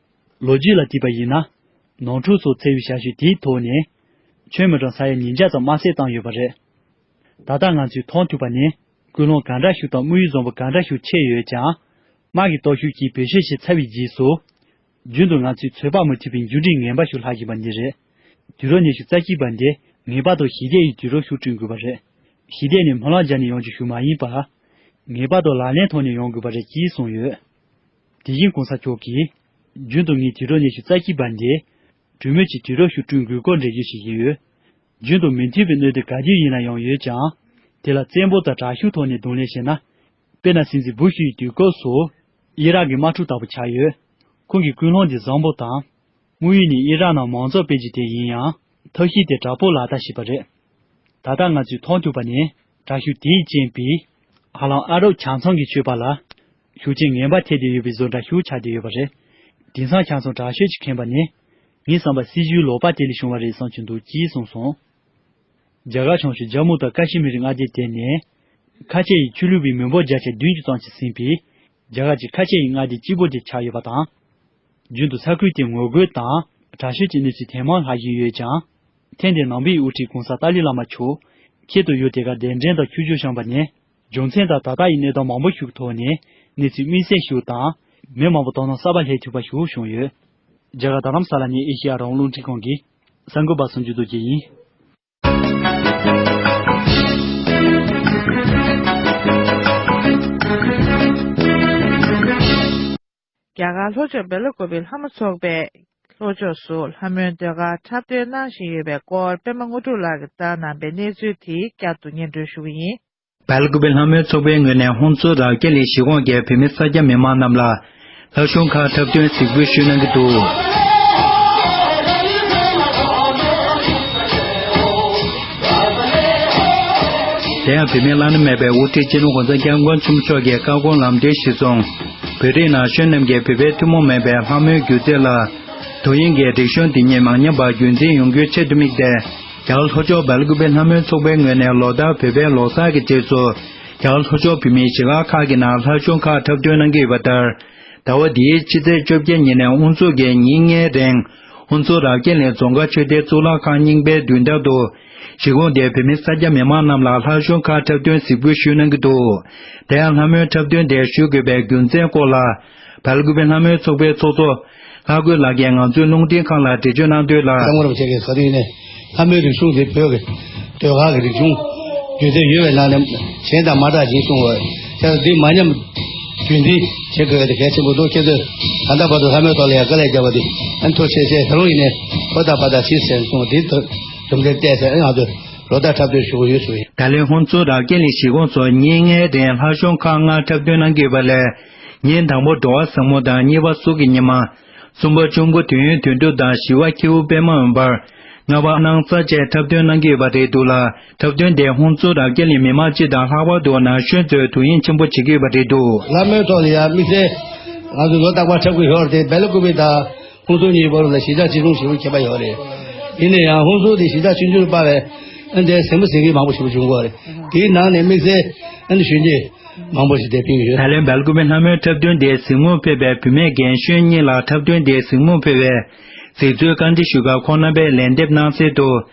ལོ་རྒྱུས་ལ་བལྟས་པ་ཡིན་ན། ནང་འཁྲུག་སོགས་འཚེ་བའི་བྱ་སྤྱོད་དེའི་ཐོག་ནས། ཁྱོན་མི་གྲངས་ས་ཡ་ཉིས་བརྒྱ་ཙམ་དམར་བསད་བཏང་ཡོད་པ་རེད། ད་ལྟ་ང་ཚོས་མཐོང་ཐུབ་པ་ནི་སྐུལ་སློང་ག་འདྲ་ཞིག་དང་དམིགས་ཡུལ་བཟང་པོ་ག་འདྲ་ཞིག་ཕྱེས་ཡོད་ཀྱང། དམག་གི་སྟོབས་ཤུགས་ཀྱིས་བེད་སྤྱོད་བྱས་ཚར་བའི་རྗེས་སུ། རྒྱུན་དུ་ང་ཚོས་ཚོད་དཔག་མི་ཐུབ་པའི་མཇུག་འབྲས་ངན་པ་ཞིག་ལྷག་བཞིན་པ་འདི་རེད། དུས་རབས་ཉི་ཤུ་རྩ་གཅིག་པ་འདི་ངེས་པར་དུ་ཞི་བདེ་ཡི་དུས་རབས་སུ་བསྐྲུན་དགོས་པ་རེད། ཞི་བདེ་ནི་སྨོན་ལམ་སྦྱར་ནས་ཡོང་རྒྱུ་ཞིག་མ་ཡིན་པར། ངེས་པར་དུ་ལག་ལེན་ཐོག་ནས་ཡོང་དགོས་པ་རེད་ཅེས་གསུངས་ཡོད། དེ་བཞིན་གོང་ས་མཆོག་གིས། རྒྱུན་དུ་ངས་དྲིལ་སྒྲོག་སྙན་ཞུ་རྩ་ཆེའི་བར་འདི། གྲོས་མོལ་གྱི་དྲིལ་སྒྲོག་ཞུ་སྐྲུན་དགོས་སྐོར་འགྲེལ་བརྗོད་བྱེད་ཀྱི་ཡོད། རྒྱུན་དུ་མི་མཐུན་པའི་གནོད་འདོད་ག་དུས་ཡིན་ན་ཡང་ཡོད་ཀྱང། དེ་ལ་བཙན་པོ་དང་དྲག་ཤུགས་ཐོག་ནས་རྡུང་ལེན་བྱས་ན། དཔེར་ན་སྲིད་འཛིན་བུ་ཤུ་ཡི་དུས་སྐབས་སུ། དབྱི་རག་གི་དམག་འཁྲུག་ལྟ་བུ་ཆགས་ཡོད། ཁོང་གིས་ཀུན་སློང་འདི་བཟང་པོ་དང། དངོས་ཡོད་ནས་དབྱི་རག་ནང་མང་ཚོགས་དཔེ་ཇི་དེ་ཡིན་ཡང། ཐབས་ཤེས་དེ་དྲག་པོ་ལག་བསྟར་བྱས་པ་རེད། ད་ལྟ་ང་ཚོས་མཐོང་ཐུབ་པ་ནི་དྲག་ཤུགས་དེའི་རྐྱེན་པས། ཧ་ལམ་ཨ་རོབ་བྱང་ཚང་གིས་ཆོས་པ་ལ། ཤུགས་རྐྱེན་ངན་པ་ཐེབས་བསྡད་ཡོད་པའི་བཟོ་འདྲ་ཤུགས་ཆགས་བསྡད་ཡོད་པ་རེད། དེང་སང་ཆང་སོང་དྲག་ཤོས་ཀྱི་ཁེངས་པ་ནི། ངའི་བསམ་པར་སྲིད་ཇུས་ལོག་པ་དེ་ལས་བྱུང་བ་རེད་བསམ་གྱི་འདུག་ཅེས་གསུངས་སོང། རྒྱ་གར་བྱང་ཕྱོགས་ཇཱ་མུ་དང་ཀ་ཤི་མིར་མངའ་སྡེ་དེ་ནི། ཁ་ཆེ་ཡི་ཆོས་ལུགས་པའི་མི་འབོར་བརྒྱ་ཆ་བདུན་ཅུ་ཙམ་ཞིག་ཟིན་པའི། རྒྱ་གར་གྱི་ཁ་ཆེ་ཡི་མངའ་སྡེ་གཅིག་པོ་དེ་ཆགས་ཡོད་པ་དང། རྒྱུན་དུ་ས་ཁུལ་དེར་ངོ་རྒོལ་དང་དྲག་ཤོས་ཀྱི་གནས་ཚུལ་ཐེངས་མང་ལྷག་བཞིན་ཡོད་ཀྱང། ཐེངས་འདིར་ནང་པའི་དབུ་ཁྲིད་གོང་ས་ཏཱ་ལི་བླ་མ་མཆོག་ཁྱེད་དུ་ཡུལ་དེ་གར་གདན་འདྲེན་དང་ཁྱུ་བྱུར་བཤམས་པ་ནི། རྒྱུ་མཚན་དང་ད་ལྟ་ཡི་གནས་སྟངས་མང་པོ་ཞིག་གི་ཐོག་ནས་གནས་ཚུལ་དམིགས་བསལ་ཞིག་དང། མི་མང་པོ་དོ་སྣང་གསར་པ་ལྷད་ཐུབ་པ་ཞིག་བྱུང་ཡོད། རྒྱ་གར་དང་རམ་ས་ལ་ནས་ཨེ་ཤེ་ཡ་རང་བློ་འདྲི་ཁང་གིས་གསར་འགོད་པ་གསུམ་འཇུ་བསྡུ་བྱས་ཡིན། རྒྱ་གར་ལྷོ་ཕྱོགས་བྷེ་ལོ་ཀོ་བི་ལྷ་མོ་ཚོགས་པས་ལྷོ་ཕྱོགས་སུ་ལྷ་མོའི་ཟློས་གར་འཁྲབ་སྟོན་གནང་བཞིན་ཡོད་པའི་སྐོར་པད་མ་དངོས་གྲུབ་ལགས་ཀྱིས་བརྩམས་གནང་པའི་གནས་ཚུལ་དེ་བསྐྱར་དུ་སྙན་སྒྲོན་ཞུ་གི་ཡིན། བྷེ་ལོ་ཀོ་བི་ལྷ་མོའི་ཚོགས་པའི་ངོས་ནས་ཧོང་ཚོ་རག་ཀེ་ལི་གཞིས་གོང་གི་བོད་མི་ས་སྐྱ་མི་མང་རྣམས་ལ་ལྷ་གཞུང་ཁག་འཁྲབ་སྟོན་གཟིགས་འབུལ་ཞུས་གནང་གི་འདུག། དེ་ཡང་བུད་མེད་བླ་ན་མེད་པའི་དབུ་ཁྲིད་སྤྱི་ནོར ྋགོང་ས ྋསྐྱབས་མགོན་ཆེན་མོ་མཆོག་གི་བཀའ་དགོངས་ལམ་སྟོན་གཞི་བཟུང། བོད་རིགས་ན་གཞོན་རྣམས་ཀྱིས་བོད་པའི་ཐུན་མོང་མིན་པའི་ལྷ་མོའི་སྒྱུ་རྩལ་ལ་དོ་དབྱིངས་ཀྱི་སྒྲིག་གཞུང་དེ་ཉིད་མང་ཉམས་པ་རྒྱུན་འཛིན་ཡོང་རྒྱུའི་ཆེད་དུ་དམིགས་ཏེ། རྒྱ་ལྷོ་ཕྱོགས་བལ་སྐུད་པའི་ལྷ་མོའི་ཚོགས་པའི་ངོས་ནས་ལོ་ལྟར་བོད་པའི་ལོ་སར་གྱི་རྗེས་སུ། རྒྱ་ལྷོ་ཕྱོགས་བོད་མིའི་གཞིས་ལག་ཁག་གི་ནང་ལྷ་གཞུང་ཁག་འཁྲབ་སྟོན་གནང་གི་ཡོད་པ་ལྟར། ཟླ་བ་འདིའི་ཕྱི་ཚེས་བཅོ་བརྒྱད་ཉིན་ནས་དབུ་འཛུགས་ཀྱིས་ཉིན་ལྔའི་རིང། དབུ་འཛུགས་རྭ་རྒྱས་ལའི་རྫོང་མཁར་ཆོས་སྡེའི་གཙུག་ལག་ཁང་རྙིང་པའི་མདུན་ཐང་དུ། གཞི་གོང་དེ་བོད་མི་ས་སྐྱ་མི་མང་རྣམས་ལ་ལྷ་གཞུང་ཁག་འཁྲབ་སྟོན་གཟིགས་འབུལ་ཞུས་གནང་གི་འདུག་དེ་ཡང་ལྷ་མོའི་འཁྲབ་སྟོན་དེ་ཞུ་དགོས་པའི་རྒྱུ་མཚན་སྐོར་ལ། བལ་དགུ་པའི་ལྷ་མོའི་ཚོགས་པའི་ཚོགས་གཙོ། ལྷ་རྒོད་ལགས་ཀྱིས་ང་ཚོའི་རླུང་འཕྲིན་ཁང་ལ་འགྲེལ་བརྗོད་གནང་དོན་ལ། གསར་འགོད་པ་ཁྱེད་ཀྱིས་ག་དུས་ནས་ལྷ་མོའི་རིག་གཞུང་དེ་བོད་ཀྱི་ཟློས་གར་གྱི་རིག་གཞུང་བརྒྱུད་དེ་ཡོད་པའི་ནང་ནས་གཞན་དང་མ་འདྲ་ཞེས་གསུངས་འོས་ཤ་ཚ་དེ་མ་ཉམས་རྒྱུད་འཛིན་བྱེད་དགོས་དེ་གལ་ཆེན་པོ་འདུག་ཁྱེད་ཚོས་ད་ལྟ་བར་དུ་ལྷ་མོའི་ཐོག་ལ་ཡང་དཀའ་ལས་བརྒྱབ་པ་དེ་ཨ་མཐོ་ཆེ་ཆེ་ད་རུང་ཡིན་ནའི་བོད་དང་བ་དག་ཕྱིར་ཟེར་གསུངས་དེའི་དོན། ཟུང་འབྲེལ་བསྟན་སའི་ངང་དུ་ལོ་ཟླ་འཁྲབ་སྟོན་ཞུ་གི་ཡོད་ཟེར། ད་ལན་ཁོང་ཚོ་དང་ཀན་ལི་ཞི་ཁོང་ཚོ་གཉིས་ལྔའི་རིང་ལྷ་གཞུང་ཁག་ལྔ་འཁྲབ་སྟོན་གནང་གི་བ་ལས། ཉིན་དང་པོ་འགྲོ་བ་བཟང་མོ་དང་གཉིས་པ་སྲོག་གི་ཉི་མ། གསུམ་པ་ཆུ་མགོ་དུས་ཡུན་དུས་འགྲོ་དང་བཞི་བ་ཁྱེའུ་པད་མ་འོན་པར། ལྔ་བ་སྣང་རྩ་བཅས་འཁྲབ་སྟོན་གནང་གི་བ་རེད་འདུག་ལ་འཁྲབ་སྟོན་དེས་ཧུང་ཙོ་དང་ཀན་ལི་མི་མང་སྤྱི་དང་ལྷག་པར་དུ་ན་གཞོན་ཚོའི་དུས་ཡུན་ཆེན་པོ་བྱེད་ཀྱི་བ་རེད་འདུག། ལ་མོའི་ཐོག་ལ་ཡང་དམིགས་བསལ་ངང་དུ་ལོ་རྟག་པར་འཁྲབ་གི་ཡོད་དེ་སྦེ་ལ་ཀུ་པི་དང། ཧུན་སུར་གཉིས་བར་ལ་གཞིས་ཆགས་གཅིག་མཚུངས་ཞིག་རུ་གྱེས་པ་ཡོད་རེད། ཡིན་ན་ཡང་ཧུན་སུར་དེ་གཞིས་ཆགས་ཆུང་ཆུང་རུ་སྤར་བས། ཨན་དེར་ཟིང་མི་ཟིང་གི་མང་པོ་ཞིག་བྱུང་དགོས་རེད། དེའི་ནང་ནས་དམིགས་བསལ་ཨན་གཞོན་སྐྱེས་མང་པོ་ཞིག་དེར་ཕེབས་ཀྱི་ཡོད། ད་ལན་བལ་ཀུ་བའི་ལྷ་མོའི་འཁྲབ་སྟོན་དེའི་གཟིགས་མོར་ཕེབས་པའི་བུད་མེད་རྒན་གཞོན་གཉིས་ལ་འཁྲབ་སྟོན་དེའི་གཟིགས་མོར་ཕེབས་བའི་གཟིགས་ཚུལ་བཀའ་འདྲི་ཞུས་སྐབས་ཁོང་རྣམ་པས་ལན་འདེབས་གནང་གསལ་དུ།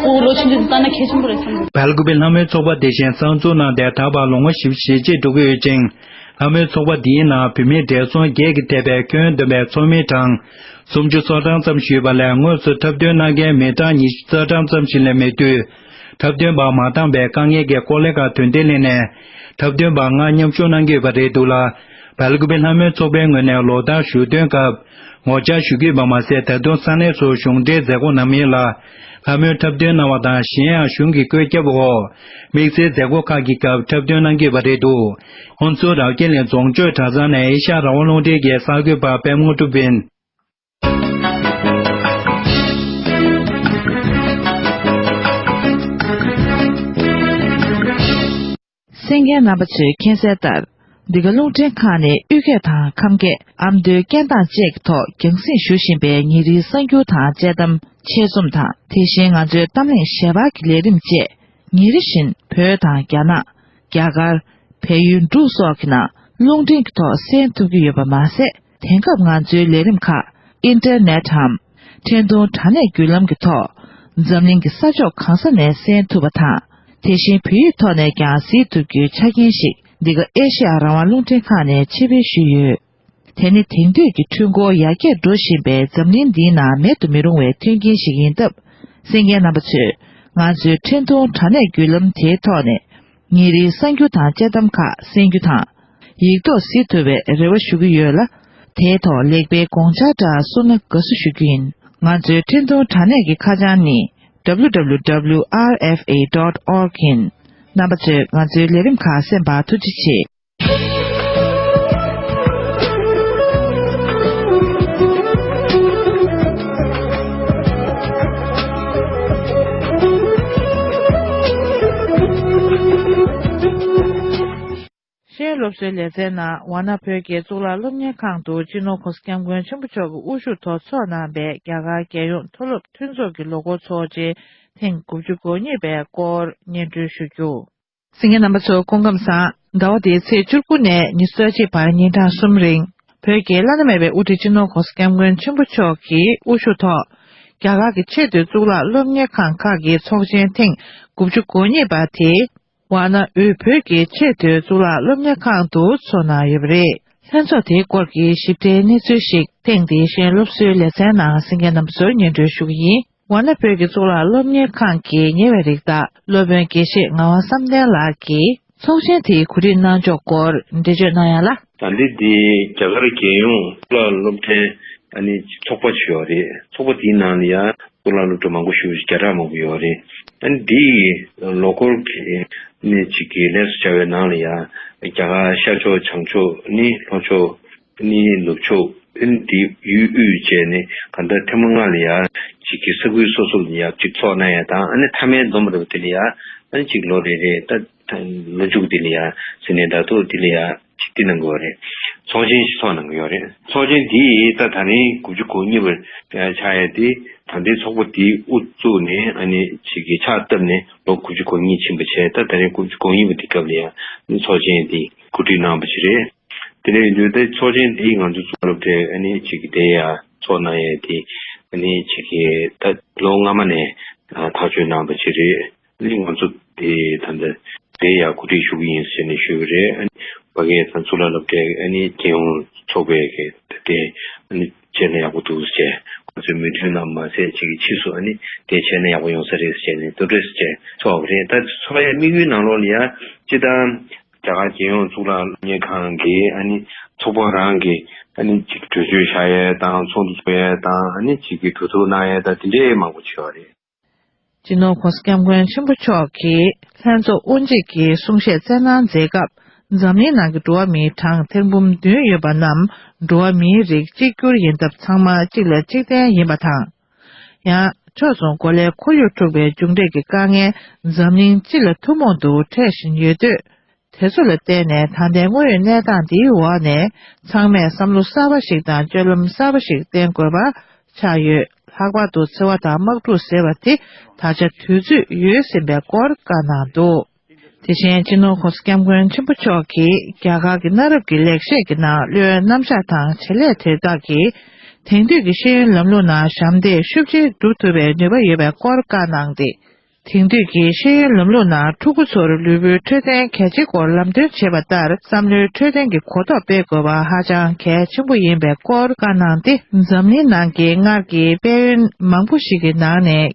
ཁོ་བོ་ལོ་ཆེན་པོས་འདི་ལྟ་ན་གལ་ཆེན་པོ་རེད་བསམ་གྱི། བལ་དགོན་པའི་ལྷ་མོའི་ཚོགས་པ་དེ་བཞིན་གསར་འཛུགས་གནང་སྟེ་ད་བར་ལོ་ངོ་བཞི་བཅུ་ཞེ་གཅིག་འགྲོ་གི་ཡོད་ཅིང། ལྷ་མོའི་ཚོགས་པ་འདིའི་ནང་བུད་མེད་བགྲེས་སོང་བརྒྱད་ཀྱི་ཐེ་བའི་ཁྱོན་བདུན་པའི་ཚོགས་མི་གྲངས་སུམ་ཅུ་སོ་གྲངས་ཙམ་ཞུས་པ་ལས་དངོས་སུ་འཁྲབ་སྟོན་གནང་མཁན་མི་གྲངས་ཉི་ཤུ་རྩ་གྲངས་ཙམ་ཞིག་ལས་མེད་དུས། འཁྲབ་སྟོན་པ་མ་བཏང་བའི་དཀའ་ངལ་གྱི་སྐོར་ལས་ཀ་དོན་དེ་གླེང་ནས་འཁྲབ་སྟོན་པ་ལྔ་མཉམ་ཞུགས་གནང་གི་ཡོད་པ་རེད་འདུག་ལ། བལ་དགོན་པའི་ལྷ་མོའི་ཚོགས་པའི་ངོས་ནས་ལོ་ལྟར་ཞུ་དོན་སྐབས་ངོ་བཅར་ཞུ་གི་ཡོད་པ་མ་ཟད་ད་དུང་ས་གནས་སུ་གཞུང་འབྲེལ་མཛད་སྒོ་གནང་མེད་ལ། ལྷ་མོའི་འཁྲབ་སྟོན་གནང་བ་དང་གཞན་ཡང་གཞུང་གི་བཀོད་ཁྱབ་འོག་དམིགས་བསལ་མཛད་སྒོ་ཁག་གི་སྐབས་འཁྲབ་སྟོན་གནང་གི་པ་རེད་འདུག་ཁོང་ཚོ་རྭ་རྒྱ་ལེན་རྫོང་ཆོས་གྲྭ་ཚང་ནས་ཨེ་ཤ་ར་བ་རླུང་འཕྲིན་རྒྱལ་གསར་འགོད་པ་པད་མོ་ཀྲུ་བིན། སེང་གེའི་རྣམ་པ་ཚོས་མཁྱེན་གསལ་ལྟར། འདི་ག་རླུང་འཕྲིན་ཁང་ནི་དབུས་སྐད་དང་ཁམས་སྐད་ཨ་མདོའི་སྐད་གདངས་བཅས་ཀྱི་ཐོག་རྒྱང་སྲིང་ཞུ་བཞིན་པའི་ཉིན་རེའི་གསར་འགྱུར་དང་དཔྱད་གཏམ་ཆེད་རྩོམ་དང་དེ་བཞིན་ང་ཚོའི་གཏམ་གླེང་ཞལ་འབག་གི་ལས་རིམ་བཅས་ཉིན་རེ་བཞིན་བོད་དང་རྒྱ་ནག། རྒྱ་གར། བལ་ཡུལ་འབྲུག་སོགས་ཀྱི་ནང་རླུང་འཕྲིན་གྱི་ཐོག་གསན་ཐུབ་ཀྱི་ཡོད་པ་མ་ཟད། དེང་སྐབས་ང་ཚོའི་ལས་རིམ་ཁག Internet འམ་འཕྲིན་ཐུང་དྲ་གནས་བརྒྱུད་ལམ་གྱི་ཐོག་འཛམ་གླིང་གི་ས་ཕྱོགས་གང་ས་ནས་གསན་ཐུབ་པ་དང། དེ་བཞིན་བོད་ཡིག་ཐོག་ནས་ཀྱང་གཟིགས་ཐུབ་རྒྱུའི་ཆ་རྐྱེན་ཞིག་འདི་ག་ཨེ་ཤེ་ཡ་རང་དབང་རླུང་འཕྲིན་ཁང་ནས་ཕྱིར་ཕུལ་ཞུས་ཡོད། དེ་ནི་དེང་དུས་ཀྱི་འཕྲུལ་འཁོར་ཡར་རྒྱས་འགྲོ་བཞིན་པའི་འཛམ་གླིང་འདིའི་ནང་མེད་དུ་མི་རུང་བའི་མཐུན་རྐྱེན་ཞིག་ཡིན་སྟབས་སེམས་མཁན་རྣམ་པ་ཚོས་ང་ཚོའི་འཕྲིན་ཐུང་དྲ་གནས་བརྒྱུད་ལམ་དེའི་ཐོག་ནས་ངེད་རིག་གསར་འགྱུར་དང་དཔྱད་གཏམ་ཁག་གསན་རྒྱུ་དང། ཡིག་ཐོག་གཟིགས་ཐུབ་པའི་རེ་བ་ཞུ་གི་ཡོད་ལ། དེའི་ཐོག་ལེགས་པའི་དགོངས་འཆར་འདྲ་གསུངས་ན་དགའ་བསུ་ཞུ་རྒྱུ་ཡིན། ང་ཚོའི་འཕྲིན་གཏོང་དྲ་གནས་ཀྱི་ཁ་བྱང་ནི། www.rfa.org། ཡིན། རྣམ་པ་ཚོས་ང་ཚོའི་ལས་རིམ་ཁག་གསན་པར་ཐུགས་རྗེ་ཆེ། ཤེས་སློབ་གསོའི་ལེ་ཚན་ནང་ཝ་ན་བོད་ཀྱི་གཙུག་ལག་སློབ་གཉེར་ཁང་དུ་སྤྱི་ནོར་ཁོ་སི་སྐྱབས་མགོན་ཆེན་པོ་མཆོག་གི་དབུ་བཞུགས་ཐོག་ཚོགས་གནང་པའི་རྒྱ་གར་རྒྱལ་ཡོངས་མཐོ་སློབ་མཐུན་ཚོགས་ཀྱི་ལོ་འཁོར་ཚོགས་ཆེན་ཐེངས་དགུ་བཅུ་གོ་གཉིས་པའི་སྐོར་སྙན་སྒྲོན་ཞུ་རྒྱུ། སེང་གེ་རྣམ་པ་ཚོ་སྐུ་ཁམས་བཟང། ཟླ་བ་འདིའི་ཚེས་བཅུར་དགུ་ནས་ཉི་ཟླ་གཅིག་བར་ཉིན་གྲངས་གསུམ་རིང་བོད་ཀྱི་བླ་ན་མེད་པའི་དབུ་ཁྲིད་སྤྱི་ནོར་གོང་ས་སྐྱབས་མགོན་ཆེན་པོ་མཆོག་གི་དབུ་བཞུགས་ཐོག་རྒྱ་གར་གྱི་ཆེས་མཐོའི་གཙུག་ལག་སློབ་གཉེར་ཁང་ཁག་གི་ཚོགས་ཆེན་ཐེངས་དགུ་བཅུ་གོ་གཉིས་པ་དེ་ཝཱ་ན་ཨུའི་བོད་ཀྱི་ཆེས་མཐོའི་གཙུག་ལག་སློབ་གཉེར་ཁང་དུ་འཚོགས་གནང་ཡོད་པ་རེད། ལྷན་ཚོགས་དེའི་སྐོར་གྱི་ཞིབ་ཕྲའི་གནས་ཚུལ་ཞིག་ཐེངས་འདིའི་གཞན་སློབ་གསོའི་ལེ་ཚན་ནང་སེང་གེ་རྣམ་པ་ཚོའི་སྙན་སྒྲོན་ཞུ་གི་ཡིན། ཝཱ་ན་བོད་ཀྱི་གཙུག་ལག་སློབ་གཉེར་ཁང་གི་ཉེ་བའི་རིགས་བདག་སློབ་དཔོན་དགེ་བཤེས་ངག་དབང་བསམ་གཏན་ལགས་ཀྱིས་ཚོགས་ཆེན་དེའི་གོ་སྒྲིག་གནང་ཕྱོགས་སྐོར་འགྲེལ་བརྗོད་གནང་ཡང་ལ། དག་འདི་དེ་རྒྱ་གར་རྒྱལ་ཡོངས་གཙུག་ལག་སློབ་གྲྭའི་ཨ་ནི་ཚོགས་པ་ཆེ་བ་རེད། ཚོགས་པ་དེའི་ནང་ལ་ཡང་གཙུག་ལག་སློབ་གྲྭ་མང་པོ་ཞུ་བཞི་བརྒྱ་ཕྲག་མང་པོ་ཡོད་པ་རེད། ཨ་ནི་དེའི་ལོ་འཁོར་གྱི་གནས་གཅིག་གི་ལས་སུ་བྱ་བའི་ནང་ལ་ཡང་རྒྱ་གར་ཤར་ཕྱོགས་བྱང་ཕྱོགས་ནི་ལྷོ་ཕྱོགས། ནི་ནུབ་ཕྱོགས་ཨིན་ལྡི་ཡུལ་དབུས་བཅས་ནི་ག་ད་ཐེ་མོ་ང་ལི་ཡ་གཅིག་གི་ས་ཁུལ་སོ་སོར་ནི་ཡབ་གཅིག་ཚོགས་ན་ཡ་དང་ཨ་ནི་ཐ་མའི་འཛོམས་རེ་བ་དེ་ལི་ཡ་ཨན་གཅིག་ལོ་རེ་རེ་ད་ལོ་མཇུག་དེ་ལི་ཡ་ཟི་ནའི་ད་ཐོག་དེ་ལི་ཡ་གཅིག་དེ་གནང་གི་བ་རེད་ཚོགས་ཆེན་ཞིག་ཚོགས་གནང་གི་ཡོད་རེད་ཚོགས་ཆེན་དེ་ད་ད་རིང་དགུ་བཅུ་གོ་གཉིས་པར་ཆགས་ཡ་དེ་ད་ལྟའི་ཚོགས་པ་དེ་དབུ་བཙུགས་ནས་ཨ་ནི་གཅིག་གི་ཕྱག་བཏབ་ནས་ལོ་དགུ་བཅུ་གོ་གཉིས་ཕྱིན་པ་བྱས་ད་ད་རིང་དགུ་བཅུ་གོ་གཉིས་པ་དེ་སྐབས་ལི་ཡ་ཚོགས་ཆེན་དེ་གོ་སྒྲིག་གནང་བ་བྱས་རེད། དེ་ནས་འདུས་སྡེ་ཚོགས་ཆེན་འདི་ང་ཚོ་ཚོགས་སློབ་གྲྭའི་ཨ་ནེ་ཆེ་གེ་དེ་ཡ་ཚོགས་གནང་ཡས་དེ་ཨ་ནེ་ཆེ་གེ་ད་ལོ་སྔ་མ་ནས་ཐག་གཅོད་གནང་པ་ཅི་རེད་ཨ་ནེ་ང་ཚོ་དེ་ད་ལྟ་དེ་ཡ་གོ་སྒྲིག་ཞུ་གི་ཡིན་ཟེར་ནས་ཞུས་པ་རེད་ཨ་ནེ་བ་ཁེ་ད་ཚོགས་སློབ་གྲྭའི་ཨ་ནེ་རྒྱལ་ཡོངས་ཚོགས་པའི་ཁེ་ད་དེ་ཨ་ནེ་བྱས་ན་ཡག་པོ་འདུག་ཟེར་ང་ཚོའི་མོས་མཐུན་གནང་མ་ཟད་ཆེ་གེ་ཕྱིས་སུ་ཨ་ནེ་དེ་བྱས་ན་ཡག་པོ་ཡོང་ས་རེད་ཟེར་ནས་ཏུ་ཏྲེས་བཅས་ཚོགས་པ་རེད་ད་ཚོགས་ཡས་དམིགས་ཡུལ་ནང་ལོགས་ལ་ཡ་ཅི་ད། རྒྱ་གར་རྒྱལ་ཡོངས་གཙུག་ལག་བརྙན་ཁང་གི་ཚོགས་པ་རང་གི་གྲོས་ཆོད་བཞག་ཡས་དང་ཚོགས་འདུ་འཚོགས་ཡས་དང་གྲོས་ཚོགས་གནང་ཡས་དང་དེ་འདྲའི་མང་པོ་བྱས་བ་རེད། སྤྱི་ནོར་ཁོང་སྐྱབས་མགོན་ཆེན་པོ་མཆོག་གིས་ལྷན་ཚོགས་དབུ་འབྱེད་ཀྱི་གསུང་བཤད་སྩལ་གནང་མཛད་སྐབས་འཛམ་གླིང་ནང་གི་འགྲོ་བ་མིའི་གྲངས་ཐེར་འབུམ་བདུན་ཡོད་པ་རྣམས་འགྲོ་བ་མིའི་རིགས་གཅིག་གྱུར་ཡིན་སྟབས་ཚང་མ་གཅིག་ལ་གཅིག་བརྟེན་ཡིན་པ་དང། ཡང། ཕྱོགས་མཚུངས་གོ་ལའི་ཁོར་ཡུག་འཁྲུག་པའི་མཇུག་འབྲས་ཀྱི་དཀའ་ངལ་འཛམ་གླིང་སྤྱི་ལ་ཐུན་མོང་དུ་འཕྲད་བཞིན་ཡོད་དུས། དེ་ཚོ་ལ་བརྟེན་ནས་ད་ལྟའི་དངོས་ཡོད་གནས་སྟངས་འདིའི་འོག་ནས་ཚང་མས་བསམ་བློ་གསར་བ་ཞིག་དང་སྤྱོད་ལམ་གསར་བ་ཞིག་བསྟེན་དགོས་པ་ཆགས་ཡོད། ལྷག་པར་དུ་འཚེ་བ་དང་དམག་འཁྲུག་ཟེར་བ་དེ་ད་ཆ་དུས་ཚོད་ཡོལ་ཟིན་པའི་སྐོར་བཀའ་གནང་འདུག། དེ་བཞིན་སྤྱི་ནོར་ཁོང་སྐྱབས་མགོན་ཆེན་པོ་མཆོག་གིས་རྒྱ་གར་གྱི་གནའ་རབས་ཀྱི་ལེགས་བཤད་ཀྱི་ནང་བློའི་རྣམ་གཞག་དང་བྱེད་ལས་དེ་དག་གིས་དེང་དུས་ཀྱི་ཤེས་ཡོན་ལམ་ལུགས་ནང་ཞབས་འདེགས་ཤུགས་ཆེ་སྒྲུབ་ཐུབ་པའི་ནུས་པ་ཡོད་པའི་སྐོར་བཀའ་གནང་སྟེ། དེང་དུས་ཀྱི་ཤེས་ཡོན་ལམ་ལུགས་ནང་ཕྲུ་གུ་ཚོར་ལུས་པོའི་འཕྲོད་བསྟེན་གལ་ཆེའི་སྐོར་ལམ་སྟོན་བྱེད་པ་ལྟར་བསམ་བློའི་འཕྲོད་བསྟེན་གྱི་གོ་རྟོགས་སྤེལ་དགོས་པ་ཧ་ཅང་གལ་ཆེན་པོ་ཡིན་པའི་སྐོར་བཀའ་གནང་སྟེ་འཛམ་གླིང་ནང་གི་སྔར་གྱི་དཔལ་ཡོན་མང་པོ་ཞིག་གི་ནང་ནས་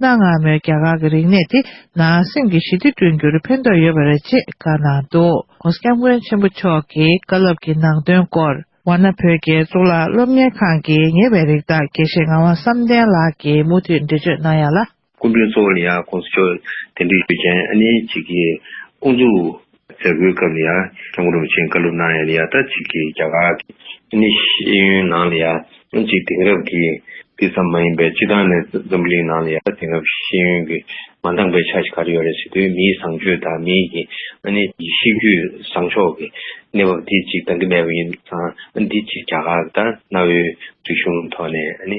གནའ་སྔ་མོའི་རྒྱ་གར་གྱི་རིག་གནས་དེ་ནང་སེམས་ཀྱི་ཞི་བདེ་བསྐྲུན་རྒྱུར་ཕན་ཐོགས་ཡོད་པ་རེད་ཅེས་བཀའ་གནང་འདུག་གོང་སྐྱབས་མགོན་ཆེན་པོ་མཆོག་གི་བཀའ་སློབ་ཀྱི་ནང་དོན་སྐོར། བ་ན་བོད་ཀྱི་གཙུག་ལག་སློབ་གཉེར་ཁང་གི་ཉེ་བའི་རིགས་བདག་དགེ་བཤེས་ངག་དབང་བསམ་གཏན་ལགས་ཀྱིས་མུ་མཐུད་འགྲེལ་བརྗོད་གནང་ཡ་ལ། སྐུ་མགྲོན་གཙོ་བོ་ལི་ཡཱ་ཀོང་སི་མཆོག་དེ་འདྲའི་ཡུལ་ཅན་ཨ་ནེ་གཅིག་གི་དབུ་འཛུགས་མཛད་སྒོའི་སྐབས་ནས་ཡང་ཁྱམས་སྒོ་རུ་མི་ཆེན་བཀའ་སློབ་གནང་ཡས་ནས་ཡར་ད་ཅིག་གིས་རྒྱ་གར་གྱི་ཨིན་ནི་ཤེས་ཡོན་ནང་ལ་ཡང་ཅིག་དེང་རབས་ཀྱི་དུས་ཙམ་མ་ཡིན་པའི་སྤྱི་བཏང་ནས་འཛམ་བུ་གླིང་ནང་ལ་ཡར་ད་དེང་རབས་ཤེས་ཡོན་གྱི་མ་འདང་པའི་ཆ་ཞིག་ག་རེ་ཡོད་རེད་ཟེར་དུས་མིའི་བཟང་སྤྱོད་དང་མིའི་གི་ཨ་ནི་གཤིས་རྒྱུད་བཟང་ཕྱོགས་ཀྱི་གནས་བབ་དེ་ཅིག་འདང་གི་མེད་པ་ཡིན་ཙང་འདི་ཅིག་རྒྱ་གར་གྱི་ད་གནའ་བོའི་རིག་གཞུང་ཐོག་ནས་ཨ་ནི་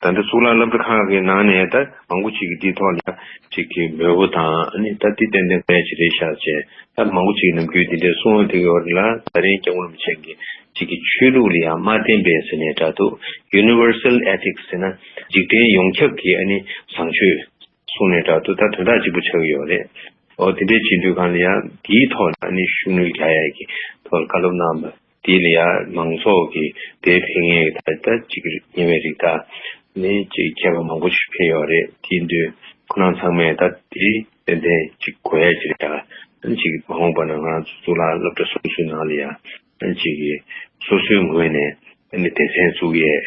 ད་ལྟ་གཙུག་ལག་བླ་བྲེ་ཁག་གི་ནང་ནས་ད་མང་པོ་ཅིག་གིས་འདིའི་ཐོག་ལ་ཅིག་གི་མོས་བོ་དང་ནི་ད་འདི་ཏན་ཏན་གལ་ཆེ་རེད་ཤག་ཅེས་ད་མང་པོ་ཅིག་ནམ་རྒྱུན་འདི་འདྲའི་གསུང་བ་དེ་གི་འོག་ལ་ད་རིང་སྐྱབས་རོམ་ཅན་གྱི་ཅིག་གི་ཆོས་ལུགས་ལ་ཡང་མ་བརྟེན་པའི་ཟེར་ནས་འདྲ་འདུག Universal Ethics ཟེར་ན་འཇིག་རྟེན་ཡོངས་ཁྱབ་ཀྱི་ཨ་ནི་བཟང་སྤྱོད། གསུངས་ནས་དྲག་ཏུ་ད་དོན་དག་ཅིག་པུ་ཆགས་ཀྱི་ཡོད་རེད། ཨོ་དེ་འདྲའི་སྤྱི་འཐུས་གང་ལ་ཡང་དེའི་ཐོག་ནས་ཨ་ནི་ཤུགས་ནུས་རྒྱག་ཡས་ཀྱི་ཐོག་ལ་བཀའ་སློབ་གནང་བ་དེ་ལ་ཡང་མང་ཚོགས་ཀྱི་དེའི་ཕན་ངེས་ཀྱི་ཐག་ད་ཅིག་གི་ཉེ་བའི་རིགས་དག་ནི་ཅིག་མཁས་པ་མང་པོ་ཞིག་ཕེབས་ཡོད་རེད་དེའི་མདུན་ཁོ་རང་ཚང་མས་ད་དེའི་ཏན་ཏན་ཅིག་གོ་ཡས་ཀྱི་རེད་ད་ཨ་ཅིག་མ་འོངས་པ་ན་ང་ཚོ་གཙུག་ལག་སློབ་གྲྭ་སོ་སོའི་ནང་ལ་ཡང་ཨ་ཅིག་གིས་སོ་སོའི་ངོས་ནས་ཨ་ནི་སྡེ་ཚན་བཙུགས་ཡས།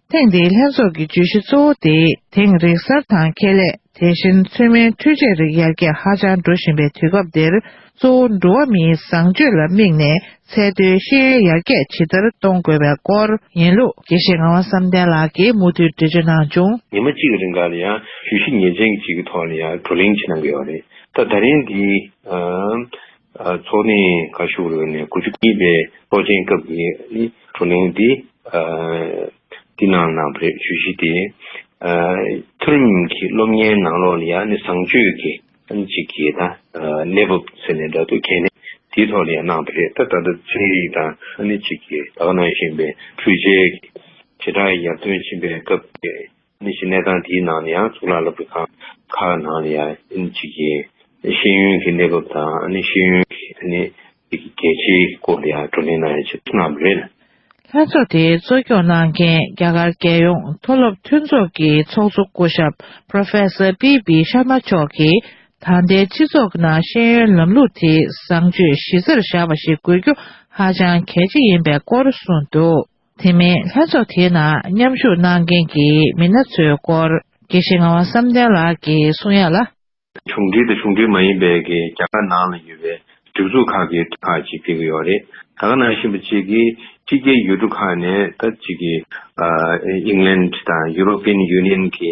ཐེངས་འདིའི་ལྷན་ཚོགས་ཀྱི་བརྗོད་གཞི་གཙོ་བོ་དེ་དེང་རིག་གསར་དང་ཁེ་ལས་དེ་བཞིན་ཚོད་མའི་འཕྲུལ་ཆས་རིགས་ཡར་རྒྱས་ཧ་ཅང་འགྲོ་བཞིན་པའི་དུས་སྐབས་འདིར་གཙོ་བོ་འགྲོ་བ་མིའི་བཟང་སྤྱོད་ལ་དམིགས་ནས་ཚད་མཐོའི་ཤེས་ཡོན་ཡར་རྒྱས་ཇི་ལྟར་གཏོང་དགོས་པའི་སྐོར་ཡིན་ལུགས། དགེ་བཤེས་ངག་དབང་བསམ་གཏན་ལགས་ཀྱིས་མུ་མཐུད་འགྲེལ་བརྗོད་གནང་བྱུང། ཉི་མ་གཅིག་གི་རིང་ཁག་ལ་ཡང་བརྗོད་གཞི་ངེས་ཅན་གྱི་གཅིག་གི་ཐོག་ལ་ཡང་བགྲོ་གླེང་བྱེད་གནང་གི་ཡོད་རེད། ད་ད་རིང་འདིའི། འཚོ་གནས་ཁ་ཤུགས་རོལ་ནས་དགུ་བཅུ་གཉིས་པའི་ཚོགས་ཆེན་སྐབས་ཀྱི་བགྲོ་གླེང་འདི་འདི་ནང་གནང་བ་རེད་ཇུས་གཞི་དེ། མཐོ་རིམ་གྱི་སློབ་གཉེར་ནང་ལོགས་ལ་ཡང་ནི་བཟང་སྤྱོད་ཀྱི་ཐམས་ཅད་ཀྱི་ན་གནས་བབ་ཟེར་ནས་འདྲ་འདུག་གལ་གནད་དེའི་ཐོག་ལ་ཡང་གནང་བ་རེད་ད་ལྟ་ད་ཚེ་རིང་དང་ཨ་ནེ་གཅིག་གིས་ད་ག་གནང་བཞིན་པའི་འཕྲུལ་ཆས་ཀྱི་བྱེ་བྲག་ཡར་ཐོན་ཕྱིན་པའི་སྐབས་ཀྱི་ནི་ཞིང་གནས་ཁང་དེའི་ནང་ནས་ཡང་གཙུག་ལག་བསླབ་པའི་ཁང་ཁག་ནང་ལ་ཡང་གཅིག་གི་ཤེས་ཡོན་གྱི་གནས་བབ་དང་ནི་ཤེས་ཡོན་གྱི་ནི་གལ་ཆེའི་སྐོར་ལ་ཡང་བགྲོ་གླེང་གནང་ཡོད་ཅེས་གསུངས་པ་རེད། ལྷན་ཚོགས་དེ་གཙོ་སྐྱོང་གནང་མཁན་རྒྱ་གར་རྒྱལ་ཡོངས་མཐོ་སློབ་མཐུན་ཚོགས་ཀྱི་ཚོགས་གཙོ་སྐུ་ཞབས Professor PB Sharma མཆོག་གིས་ད་ལྟའི་སྤྱི་ཚོགས་ནང་ཤེས་ཡོན་ལམ་ལུགས་དེ་བཟང་སྤྱོད་གཞི་རྩར་བཞག་པ་ཞིག་དགོས་རྒྱུ་ཧ་ཅང་གལ་ཆེ་ཡིན་པའི་སྐོར་གསུངས་འདུག། དེ་མིན་ལྷན་ཚོགས་དེའི་ནང་མཉམ་ཞུགས་གནང་མཁན་གྱི་མི་སྣ་ཚོའི་སྐོར་དགེ་བཤེས་ངག་དབང་བསམ་གཏན་ལགས་ཀྱི་གསུང་ཡག་ལ། གཞུང་འབྲེལ་དང་གཞུང་འབྲེལ་མ་ཡིན་པའི་གི་རྒྱ་གར་ནང་ལ་ཡོད་པའི་སྒྲིག་འཛུགས་ཁག་གི་ཁག་ཅིག་ཕེབས་ཀྱི་ཡོད་རེད་ད་ག་ནང་བཞིན་པ་ཅིག་གིས་སྤྱི་སྐད་ཡུལ་གྲུ་ཁག་ནས་ད་ཅིག་གིས England དང European Union གི་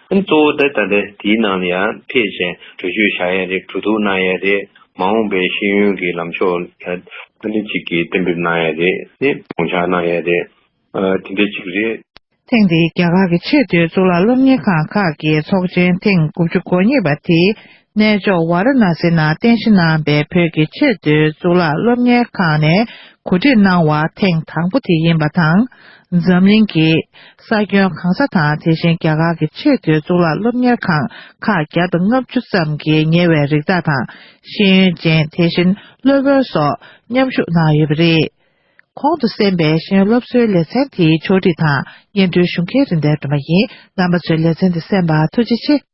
གཙོ་བོ་དེ་ལྟ་སྟེ་དེའི་ནང་ལ་ཡང་ཐེག་ཆེན་བགྲོད་ཆོད་བྱ་ཡ་རེད་བྲོ་དུག་གནང་ཡ་རེད་མ་འོངས་པའི་ཤེས་ཡོན་གྱི་ལམ་ཕྱོགས་ལ་ཨ་ནི་ཅིག་གིས་གཏན་འབེབས་གནང་ཡ་རེད་ནི་དགོངས་འཆར་གནང་ཡ་རེད་དེ་འདྲ་ཅིག་རེད། ཐེངས་འདིའི་རྒྱ་གར་གྱི་ཆེས་མཐོའི་གཙུག་ལག་སློབ་གཉེར་ཁང་ཁག་གི་ཚོགས་ཆེན་ཐེངས་དགུ་བཅུ་གོ་གཉིས་པ་དེའི་གནས་མཆོག་ཝཱ་ར་ན་སེ་ནང་རྟེན་གཞི་གནང་པའི་བོད་ཀྱི་ཆེས་མཐོའི་གཙུག་ལག་སློབ་གཉེར་ཁང་ནས་གོ་སྒྲིག་གནང་བ་ཐེངས་དང་པོ་དེ་ཡིན་པ་དང། འཛམ་གླིང་གི་ས་ཁྱོན་གང་ས་དང་དེ་བཞིན་རྒྱ་གར་གྱི་ཆེས་མཐོའི་གཙུག་ལག་སློབ་གཉེར་ཁང་ཁག་བརྒྱ་དང་ལྔ་བཅུ་ཙམ་གྱི་ཉེ་བའི་རིགས་བདག་དང་ཤེས་ཡོན་ཅན་དེ་བཞིན་སློབ་དཔོན་སོགས་མཉམ་ཞུགས་གནང་ཡོད་པ་རེད། གོང་དུ་གསན་པའི་གཞན་སློབ་གསོའི་ལེ་ཚན་དེའི་ཕྱོགས་སྒྲིག་དང་སྙན་སྒྲོན་ཞུ་མཁན་རིན་ལྡན་སྒྲོལ་མ་ཡིན་རྣམ་པ་ཚོས་ལེ་ཚན་དེ་གསན་པར་ཐུགས་རྗེ་ཆེ།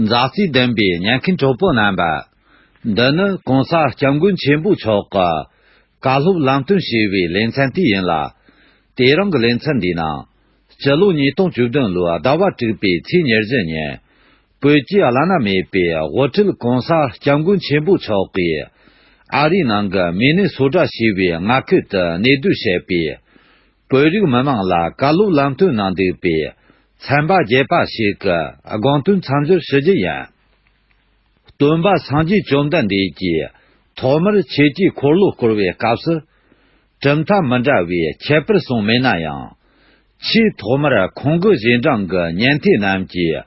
མཛའ་བརྩེ་ལྡན་པའི་ཉན་མཁན་གྲོགས་པོ་རྣམ་པ། འདི་ནི་གོང་ས་སྐྱབས་མགོན་ཆེན་པོ་མཆོག་གི། བཀའ་སློབ་ལམ་སྟོན་ཞེས་པའི་ལེ་ཚན་དེ་ཡིན་ལ། དེ་རིང་གི་ལེ་ཚན་འདིའི་ནང། སྤྱི་ལོ་ཉིས་སྟོང་བཅུ་བདུན་ལོའི་ཟླ་བ་དྲུག་པའི་ཚེས་ཉེར་བཞི་ཉིན། བོད་ཀྱི་བླ་ན་མེད་པའི་དབུ་ཁྲིད་གོང་ས་སྐྱབས་མགོན་ཆེན་པོ་མཆོག་གིས། ཨ་རིའི་ནང་གི་མི་ནི་སོ་དྲག་ཞེས་པའི་མངའ་ཁུལ་དུ་གནས་སྡོད་བྱས་པས། བོད་རིགས་མི་དམངས་ལ་བཀའ་སློབ་ལམ་སྟོན་གནང་འདུག་པས་ཚན་པ་བརྒྱད་པ་ཞིག་གི་དགོངས་དོན་མཚམས་སྦྱོར་ཞུ་རྒྱུ་ཡིན། སྟོན་པ་སངས་རྒྱས་བཅོམ་ལྡན་འདས་ཀྱིས་ཐོག་མར་ཆོས་སྤྱིའི་འཁོར་ལོ་བསྐོར་བའི་སྐབས་སུ། གྲུབ་མཐའ་མི་འདྲ་བའི་ཁྱད་པར་གསུངས་མེད་ན་ཡང། ཆེས་ཐོག་མར་ཁོང་གི་གཞན་དྲང་གི་ཉན་ཐོས་རྣམས་ཀྱིས་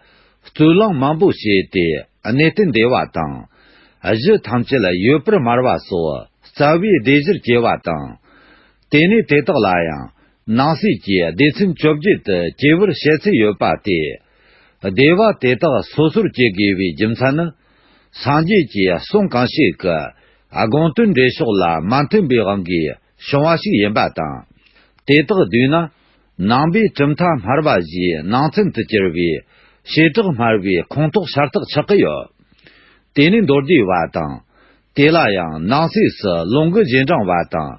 རྩོད་གླེང་མང་པོ་བྱས་ཏེ་གནས་བརྟན་བདེ་བ་དང། གཞི་ཐམས་ཅད་ཡོད་པར་སྨྲ་བ་སོགས་རྩ་བའི་སྡེ་བཞིར་སྐྱེལ་བ་དང། དེ་ནས་དེ་དག་ལ་ཡང་ནང་གསེས་ཀྱི་སྡེ་ཚན་བཅོ་བརྒྱད་དུ་སྐྱེས་བུར་བཤད་ཚུལ་ཡོད་པ་སྟེ། སྡེ་བ་དེ་དག་སོ་སོར་སྐྱེ་དགོས་པའི་རྒྱུ་མཚན་ནི། སངས་རྒྱས་ཀྱི་གསུང་གང་ཞིག་གི་དགོངས་དོན་འགྲེལ་ཕྱོགས་ལ་མ་མཐུན་པའི་དབང་གིས་བྱུང་བ་ཞིག་ཡིན་པ་དང། དེ་དག་བསྡུས་ན། ནང་པའི་གྲུབ་མཐའ་སྨྲ་བ་བཞིའི་ནང་ཚན་དུ་གྱུར་པའི་བྱེ་བྲག་སྨྲ་བའི་ཁུངས་ཐོག་ཤར་ཐག་ཆགས་ཀྱི་ཡོད། དེ་ནི་མདོར་བསྡུས་བ་དང། དེ་ལ་ཡང་ནང་གསེས་སུ་ལུང་གི་རྗེས་འབྲང་བ་དང།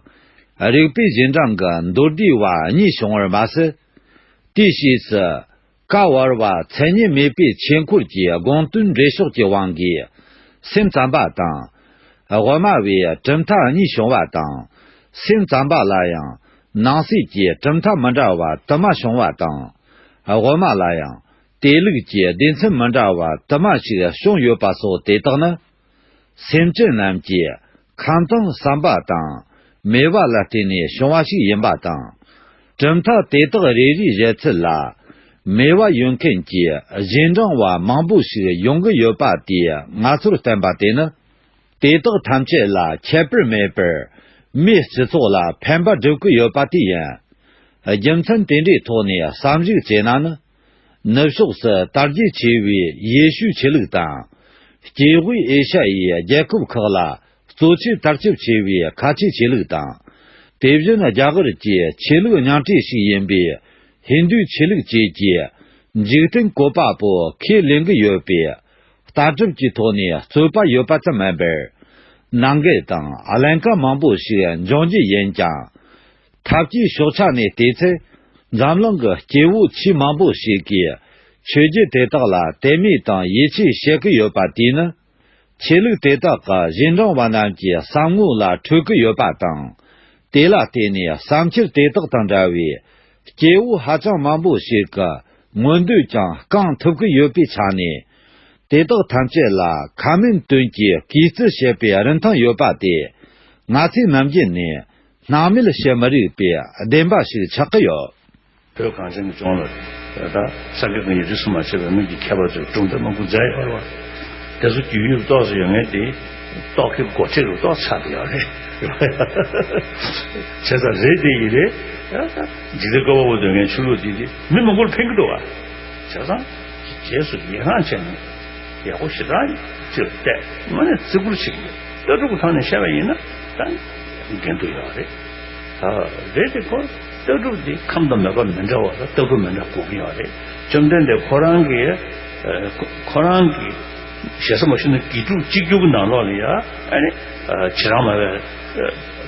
རིགས་པའི་རྗེས་འབྲང་གི་མདོར་བསྡུས་བ་གཉིས་བྱུང་བར་མ་ཟད། དེའི་ཕྱིས་སུ་བཀའ་བར་བ་མཚན་ཉིད་མེད་པའི་ཆོས་འཁོར་གྱི་དགོངས་དོན་འགྲེལ་ཕྱོགས་ཀྱི་དབང་གིས་སེམས་ཙམ་པ་དང། དབུ་མ་བས་གྲུབ་མཐའ་གཉིས་བྱུང་བ་དང། སེམས་ཙམ་པ་ལ་ཡང་ནང་གསེས་ཀྱི་གྲུབ་མཐའ་མི་འདྲ་བ་དུ་མ་བྱུང་བ་དང། དབུ་མ་ལ་ཡང་དེ་ལུགས་ཀྱི་སྡེ་ཚན་མི་འདྲ་བ་དུ་མ་ཞིག་བྱུང་ཡོད་པ་སོགས་དེ་དག་ནི། སེམས་ཅན་རྣམས་ཀྱི་ཁམས་དང་བསམ་པ་དང་མོས་པ་ལ་བརྟེན་ནས་བྱུང་བ་ཞིག་ཡིན་པ་དང། གྲུབ་མཐའ་དེ་དག་རེ་རེའི་གཞལ་ཚུལ་ལ། མོས་པ་ཡོད་མཁན་གྱི་གཞན་འབྲིང་བ་མང་པོ་ཞིག་ཡོང་གི་ཡོད་པ་དེ་ང་ཚོར་བསྟན་པ་དེ་ནི། དེ་དག་ཐམས་ཅད་ལ་ཁྱད་པར་མེད་པར་མིའི་སྤྱི་ཚོགས་ལ་ཕན་པ་སྒྲུབ་ཀྱི་ཡོད་པ་དེ་ཡིན། རྒྱུ་མཚན་དེ་འདྲའི་ཐོག་ནས་བསམ་གཞིག་བྱས་ན་ནི། ནུབ་ཕྱོགས་སུ་དར་རྒྱས་ཆེ་བའི་ཡེ་ཤུའི་ཆོས་ལུགས་དང། སྐྱེས་དབུས་ཨེ་ཤ་ཡའི་རྒྱལ་ཁབ་ཁག་ལ་གཙོ་ཆེར་དར་ཁྱབ་ཆེ་བའི་ཁ་ཆེའི་ཆོས་ལུགས་དང། དེ་བཞིན་རྒྱ་གར་གྱི་ཆོས་ལུགས་ཉང་བྲེ་ཞིག་ཡིན་པའི་ཧིན་དུའི་ཆོས་ལུགས་བཅས་ཀྱི་འཇིག་རྟེན་བཀོད་པ་པོ་ཁས་ལེན་གྱི་ཡོད་པས། ལྟ་གྲུབ་ཀྱི་ཐོག་ནས་རྩོད་པ་ཡོད་པ་ཙམ་མིན་པར། ནང་འགལ་དང་ཀླན་ཀ་མང་པོ་ཞིག་འབྱུང་རྒྱུ་ཡིན་ཀྱང། ཐབས་ཀྱི་ཕྱོགས་ཆ་ནས་བལྟས་ཚེ། འཛམ་གླིང་གི་སྐྱེ་བོ་ཆེས་མང་པོ་ཞིག་གིས་ཆོས་བརྒྱུད་དེ་དག་ལ་དད་མོས་དང་ཡིད་ཆེས་བྱེད་ཀྱི་ཡོད་པ་དེས་ནི། ཆོས་ལུགས་དེ་དག་གི་གཞན་དྲང་བ་རྣམས་ཀྱི་བསམ་ངོ་ལ་འཕྲོད་ཀྱི་ཡོད་པ་དང། དེ་ལ་བརྟེན་ནས་བསམ་འཆར་དེ་དག་དང་འདྲ་བའི་སྐྱེ་བོ་ཧ་ཅང་མང་པོ་ཞིག་གི་མངོན་འདོད་ཀྱང་བསྐང་ཐུབ་ཀྱི་ཡོད་པའི་ཆ་ནས། དེ་དག་ཐམས་ཅད་ལ་ཁ་མིན་དོན་གྱིས་གུས་བརྩི་བྱེད་པའི་རིན་ཐང་ཡོད་པ་དེ། ང་ཚོའི་ནམ་རྒྱུན་ནས་སྣང་མེད་བཤད་མ་རིག་པའི་བདེན་པ་ཞིག་ཆགས་ཀྱི་ཡོད། བོད་གངས་ཅན་གྱི་ལྗོངས་ལ། ད་ས་དགེ་བསྐོས་ཡི་རིགས་སུ་མ་ཆད་པའི་སྔོན་གྱི་མཁས་པ་ཚོས་གྲུབ་མཐའ་མང་པོ་མཛད་ཡོད་རེད། དེ་ཚོ་རྒྱུས་ཡོད་རྟོགས་སུ་ཡོད་ངེས་ཏེ། རྟོགས་མཁན་མགོ་ཁྲིད་རུ་གཏོགས་ཆགས་ཀྱི་ཡོད་རེད། བྱས་ཙང་རེད་དེ་ཡིན་རེད། འཇིག་རྟེན་བསྐོར་བ་བོ་འདོད་མཁན་ཆོས་ལུགས་འདི་མི་མང་པོར་ཕན་གྱི་འདུག་བ། བྱས་ཙང། གི་རྗེས་སུ་ཡི་རངས་བྱས་ནས། ཡག་པོ་ཞེ་དྲག་ཅིག་བལྟས། དངོས་གནས་བརྩི་བཀུར་བྱེད་ཀྱི་ཡོད། ལྟ་གྲུབ་ཀྱི་ཐང་ནས་བཤད་པ་ཡིན་ན། འགན་དུ་ཡོད་པ་རེད། ད་རེས་དེ་ཁོ་ལྟ་གྲུབ་དེ་ཁམས་དང་མོས་པ་མི་འདྲ་བ་དང་ལྟ་གོན་མི་འདྲ་གོ་གི་ཡོད་རེད། བཅོམ་ལྡན་འདས་ཁོ་རང་གི་ཁོ་རང་གི་ཞེ་ས་མ་ཞུ་ན་དགེ་ཕྲུག་གཅིག་གྱུར་གྱི་ནང་ལོགས་ལ་ཡ་ཨ་ནི་བྱེད་རང་མ་བའི་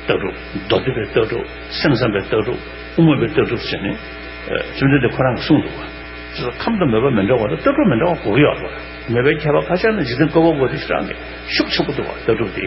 ལྟ་གྲུབ་མདོ་སྡེ་པའི་ལྟ་གྲུབ་སེམས་བསམ་པའི་ལྟ་གྲུབ་དབུ་མ་པའི་ལྟ་གྲུབ་ཟེར་ནས་བཅོམ་ལྡན་འདས་ཁོ་རང་གི་གསུངས་འདུག་བ། ཅེས་སོགས་ཁམས་དང་མོས་པ་མི་འདྲ་བ་དང་ལྟ་གྲུབ་མི་འདྲ་བ་གོ་གི་ཡོད་རེད། མོས་པའི་ཁྱད་པར་ཁ་ཤས་ནི་འཇིག་རྟེན་བཀོད་པ་པོ་དེ་ཤི་རང་གིས་ཤུགས་ཆེན་པོ་འདུག་བ་ལྟ་གྲུབ་དེ།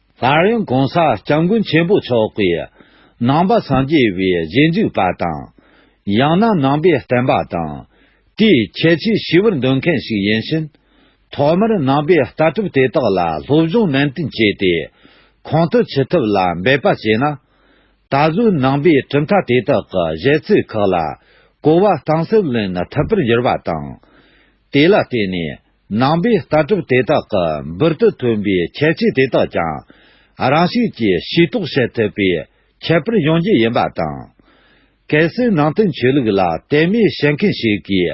ལྷ་རིང་གོང་ས་སྐྱབས་མགོན་ཆེན་པོ་མཆོག་གི་ནང་པ་སངས་རྒྱས་པའི་རྗེས་འཇུག་པ་དང། ཡང་ན་ནང་པའི་བསྟན་པ་དང་དེའི་ཁྱད་ཆོས་ཞི་བར་འདོད་མཁན་ཞིག་ཡིན་ཕྱིན། ཐོག་མར་ནང་པའི་ལྟ་གྲུབ་དེ་དག་ལ་སློབ་སྦྱོང་ནན་ཏན་བྱས་ཏེ་གོང་དུ་འཆི་ཐབས་ལ་འབད་པ་བྱས་ན། ད་གཟོད་ནང་པའི་གྲུབ་མཐའ་དེ་དག་གི་གཞས་ཚིག་ཁག་ལ་གོ་བ་གཏིང་ཟབ་ལེན་ཐུབ་པར་འགྱུར་བ་དང། དེ་ལ་བརྟེན་ནས། ནང་པའི་ལྟ་གྲུབ་དེ་དག་གི་འབུར་དུ་ཐོན་པའི་ཁྱད་ཆོས་དེ་དག་ཀྱང་རང་བཞིན་གྱིས་ཤེས་རྟོགས་བྱེད་ཐུབ་པའི་ཁྱད་པར་ཡོང་རྒྱུ་ཡིན་པ་དང། གལ་སྲིད་ནང་བསྟན་ཆོས་ལུགས་ལ་དད་མོས་བྱེད་མཁན་ཞིག་གིས་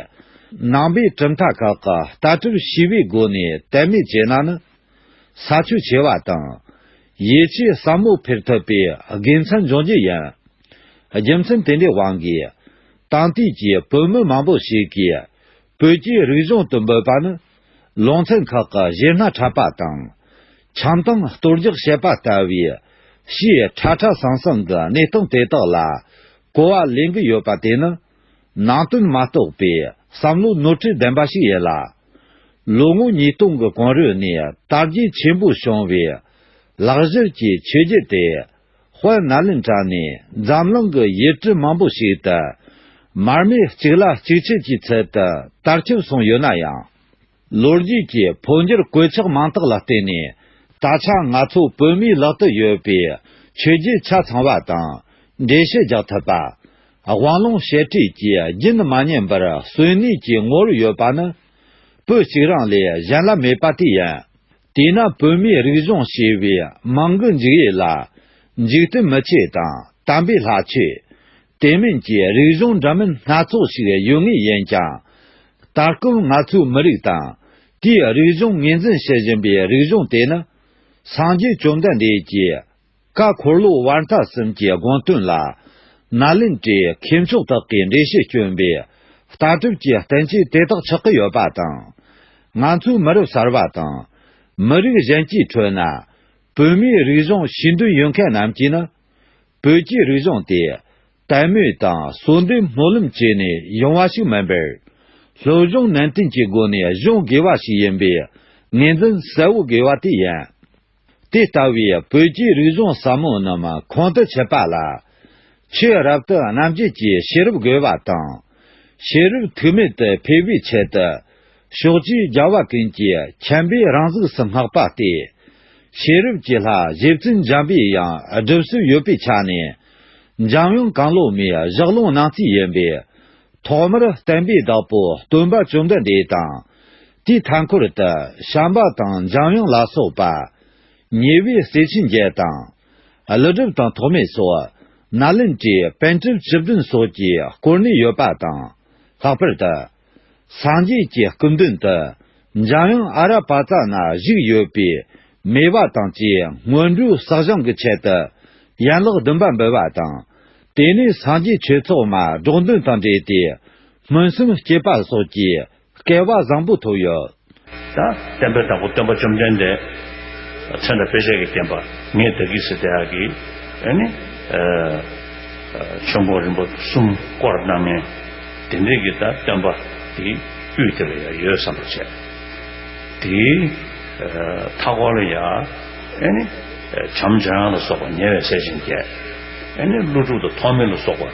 ནང་པའི་གྲུབ་མཐའ་ཁག་གི་ལྟ་གྲུབ་ཞི་བའི་སྒོ་ནས་དད་མོས་བྱས་ན་ནི། ས་ཆུ་བྱེ་བ་དང། ཡིད་ཆེས་ཟབ་མོ་འཕེལ་ཐུབ་པའི་དགེ་མཚན་འབྱུང་རྒྱུ་ཡིན། རྒྱུ་མཚན་དེ་འདྲའི་དབང་གིས། དྭངས་དུས་ཀྱི་བོད་མི་མང་པོ་ཞིག་གིས་བོད་སྐྱེས་རིག་གཞུང་དུ་འབོད་པ་ནི། ལུང་ཚན་ཁག་གི་གཞས་སྣ་འཁྲབ་པ་དང། འཆམ་སྟངས་གཏོར་རྒྱག་བྱེད་པ་ལྟ་བུའི། ཞེས་ཁྲ་ཁྲ་ཟང་ཟང་གི་གནས་སྟངས་དེ་དག་ལ་གོ་བ་ལེན་གྱི་ཡོད་པ་དེ་ནི། ནང་དོན་མ་རྟོགས་པའི་བསམ་བློའི་ནོར་འཁྲུལ་ལྡན་པ་ཞིག་ཡིན་ལ། ལོ་ངོ་ཉིས་སྟོང་གི་གོང་རོལ་ནས་དར་རྒྱས་ཆེན་པོ་བྱུང་བའི་ལག་བཞུར་གྱི་ཆོས་བརྒྱུད་དེ། དཔལ་ནཱ་ལེནྡྲ་ནས་འཛམ་གླིང་གི་ཡུལ་གྲུ་མང་པོ་ཞིག་ཏུ་མར་མེ་གཅིག་ལ་གཅིག་ཕྱེད་ཀྱི་ཚུལ་དུ་དར་ཁྱབ་སོང་ཡོད་ན་ཡང། ལོ་རྒྱུས་ཀྱི་འཕོ་འགྱུར་གོད་ཆག་མང་དག་ལ་བརྟེན་ནས་ད་ཆ་ང་ཚོ་བོད་མིའི་ལག་ཏུ་ཡོད་པའི་ཆོས་བརྒྱུད་ཆ་ཚང་བ་དང་འགྲེལ་བཤད་རྒྱག་ཐུབ་པ། དབང་ལུང་བཤད་ཁྲིད་ཀྱི་རྒྱུན་མ་ཉམས་པར་གསོན་གནས་ཀྱི་ངོར་ཡོད་པ་ནི། བོད་གཅིག་རང་ལས་གཞན་ལ་མེད་པ་དེ་ཡིན། དེས་ན་བོད་མིའི་རིག་གཞུང་ཞེས་པའི་མིང་གི་འཇིགས་ཡེ་ལ། འཇིག་རྟེན་མི་ཆེ་དང་དམ་པའི་ལྷ་ཆེ། དེ་མིན་གྱི་རིག་གཞུང་འདྲ་མིན་སྣ་ཚོགས་ཤིག་ཡོད་ངེས་ཡིན་ཀྱང། ད་སྐབས་ང་ཚོའི་མི་རིགས་དང། དེའི་རིག་གཞུང་ངོས་འཛིན་བྱེད་བཞིན་པའི་རིག་གཞུང་དེ་ནི། སངས་རྒྱས་བཅོམ་ལྡན་འདས་ཀྱིས། བཀའ་འཁོར་ལོ་དབར་རྟགས་གསུམ་གྱི་དགོངས་དོན་ལ། ན་ལན་ཀྲི་མཁས་མཆོག་དག་གིས་འགྲེལ་བཤད་བསྐྱོན་པས། ལྟ་གྲུབ་ཀྱི་བསྟན་བཅོས་དེ་དག་ཆགས་ཀྱི་ཡོད་པ་དང། ང་ཚོའི་མི་རབས་གསར་བ་དང། མི་རིགས་གཞན་གྱི་ཁྲོད་ན། བོད་མིའི་རིག་གཞུང་ཤེས་འདོད་ཡོད་མཁན་རྣམས་ཀྱིས་ནི། བོད་ཀྱི་རིག་གཞུང་དེ། དད་མོས་དང་གསོལ་འདེབས་སྨོན་ལམ་བཅས་ནས་ཡོང་བ་ཞིག་མིན་པར། ལྷོད་གཞུང་ནན་ཏན་གྱི་སྒོ་ནས་གཞུང་དགོས་པ་ཞིག་ཡིན་པའི་ངེས་འཛིན་གསལ་བོ་དགོས་པ་དེ་ཡིན། དེ་ལྟ་བུའི་བོད་ཀྱི་རིག་གཞུང་ཟབ་མོ་རྣམས་ཁོང་དུ་ཆུད་པ་ལ། ཆོས་རབ་ཏུ་རྣམ་འབྱེད་ཀྱི་ཤེས་རབ་རྒོལ་བ་དང། ཤེས་རབ་ཐུག་མེད་དུ་འཕེལ་བའི་ཆེད་དུ། ཕྱོགས་བཅུའི་རྒྱལ་བ་ཀུན་གྱི་མཁྱེན་པའི་རང་གཟུགས་སུ་བསྔགས་པ་སྟེ། ཤེས་རབ་ཀྱི་ལྷ་བཞི་བཙུན་འཇམ་པའི་ཡང་སྒྲུབ་སྲོལ་ཡོད་པའི་ཆ་ནས། འཇམ་དབྱངས་གངས་ལོ་མའི་བཞག་ལུང་ནང་ཚིག་ཡིན་པས། ཐོག་མར་བསྟན་པའི་བདག་པོ་སྟོན་པ་བཅོམ་ལྡན་འདས་དང། དེའི་མཐའ་འཁོར་དུ་བྱམས་པ་དང་འཇམ་དབྱངས་ལ་སོགས་པ། ཉེ་བའི་སྲས་ཆེན་བརྒྱད་དང། ཀླུ་སྒྲུབ་དང་ཐོགས་མེད་སོགས། ནཱ་ལེནྟྲའི་དཔོན་གྲུབ་བཅུ་བདུན་སོགས་ཀྱིས་བསྐོར་ནས་ཡོད་པ་དང། ལྷག་པར་དུ། སངས་རྒྱས་ཀྱི་སྐུ་མདུན་དུ། འཇམ་དབྱངས་ཨ་ར་པ་ཙ་ན་བཞུགས་ཡོད་པས། མེ་བ་དང་བཅས་སྔོན་འགྲོའི་བསགས་སྦྱང་གི་ཆེད་དུ། ཡན་ལག་བདུན་པ་འབུལ་བ་དང། དེ་ནས་སངས་རྒྱས་ཆོས་ཚོགས་མ་སྒྲོགས་འདོན་དང་འབྲེལ་ཏེ། སྨོན་སུམ་སྐྱེས་པ་སོགས་ཀྱིས་སྐལ་བ་བཟང་པོ་ཐོབ་ཡོད། དང། བསྟན་པའི་བདག་པོ་སྟོན་པ་བཅོམ་ལྡན་འདས། མཚན་དང་དཔེ་བྱད་ཀྱི་བསྟན་པ། ངས་བདག་གིས་སི་ཏཱ་ཀི། ཨཱ་ནི། ཆོས་འཁོར་རིན་པོ་གསུམ་བསྐོར་གནང་ངེ། དེ་འདྲིས་ཀྱི་དང་སྟོན་པ། དེའི་དབུས་དེ་ལ་ཡང་ཡོད་བསམ་པར་བྱས། དེའི། མཐའ་སྐོར་ལ་ཡང། ཨཱ་ནི། བྱམས་བྱང་ལ་སོགས་པ་ཉེ་བའི་ཟས་སྦྱིན་བརྒྱད། ཨཱ་ནི། ཀླུ་དྲུག་དང་ཐོགས་མེད་ལ་སོགས་པ།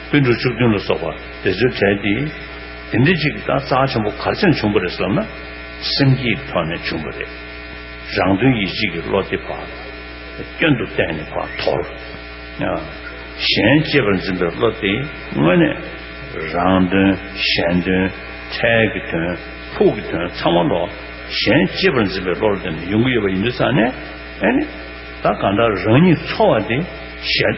དཔེ་འབྲུ་བཅུ་བདུན་ལ་སོགས་པ་དེ་ཚོའི་གྲས་ཏེ། དེ་འདྲའི་ཅིག་ད་རྩ་ཆེན་པོ་གར་ཅན་བྱུང་བ་རེད་བསམ་ན། སེམས་ཀྱི་ཐོག་ནས་བྱུང་བ་རེད། རང་དོན་ཡིད་བྱེད་ཀྱི་བློ་དེ་བག་སྐྱོན་དུ་བལྟས་ནས་བག་དོར། གཞན་གཅེས་པར་འཛིན་པའི་བློ་དེ་དངོས་གནས་རང་དོན་གཞན་དོན་འཕྲལ་གྱི་དོན་ཕུགས་ཀྱི་དོན་ཚང་མ་ལོག་གཞན་གཅེས་པར་འཛིན་པའི་བློར་བལྟས་ནས་ཡོང་གི་ཡོད་པ་ཡིན་དུས་ཚང་ནས་ཨེ་ནི། ད་གང་ལྟར་རང་ཉིད་འཚོ་བ་དེ་གཞན།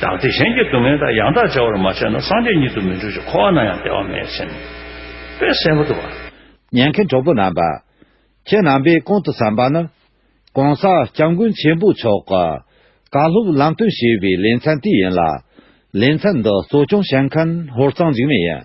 བདག་དེ་གཞན་གྱི་སྡུག་བསྔལ་དག་ཡང་དག་བྱ་བར་མ་བྱས་ན་སངས་རྒྱས་ཉིད་དུ་མི་འགྲུབ་ཅིང་འཁོར་བ་ན་ཡང་བདེ་བ་མེད་ཟིན་པས་གསལ་པོ་དུ་བ། ཉན་མཁན་གྲོགས་པོ་རྣམ་པ། ཁྱེད་རྣམ་པས་གོང་དུ་བསམས་པ་ན། གོང་ས་སྐྱབས་མགོན་ཆེན་པོ་མཆོག་གི། བཀའ་སློབ་ལམ་སྟོན་ཞེས་པའི་ལེ་ཚན་དེ་ཡིན་ལ། ལེ་ཚན་འདི་གཙོ་སྐྱོང་བྱེད་མཁན་ཧོར་གཙང་འཇིགས་མེད་ཡིན།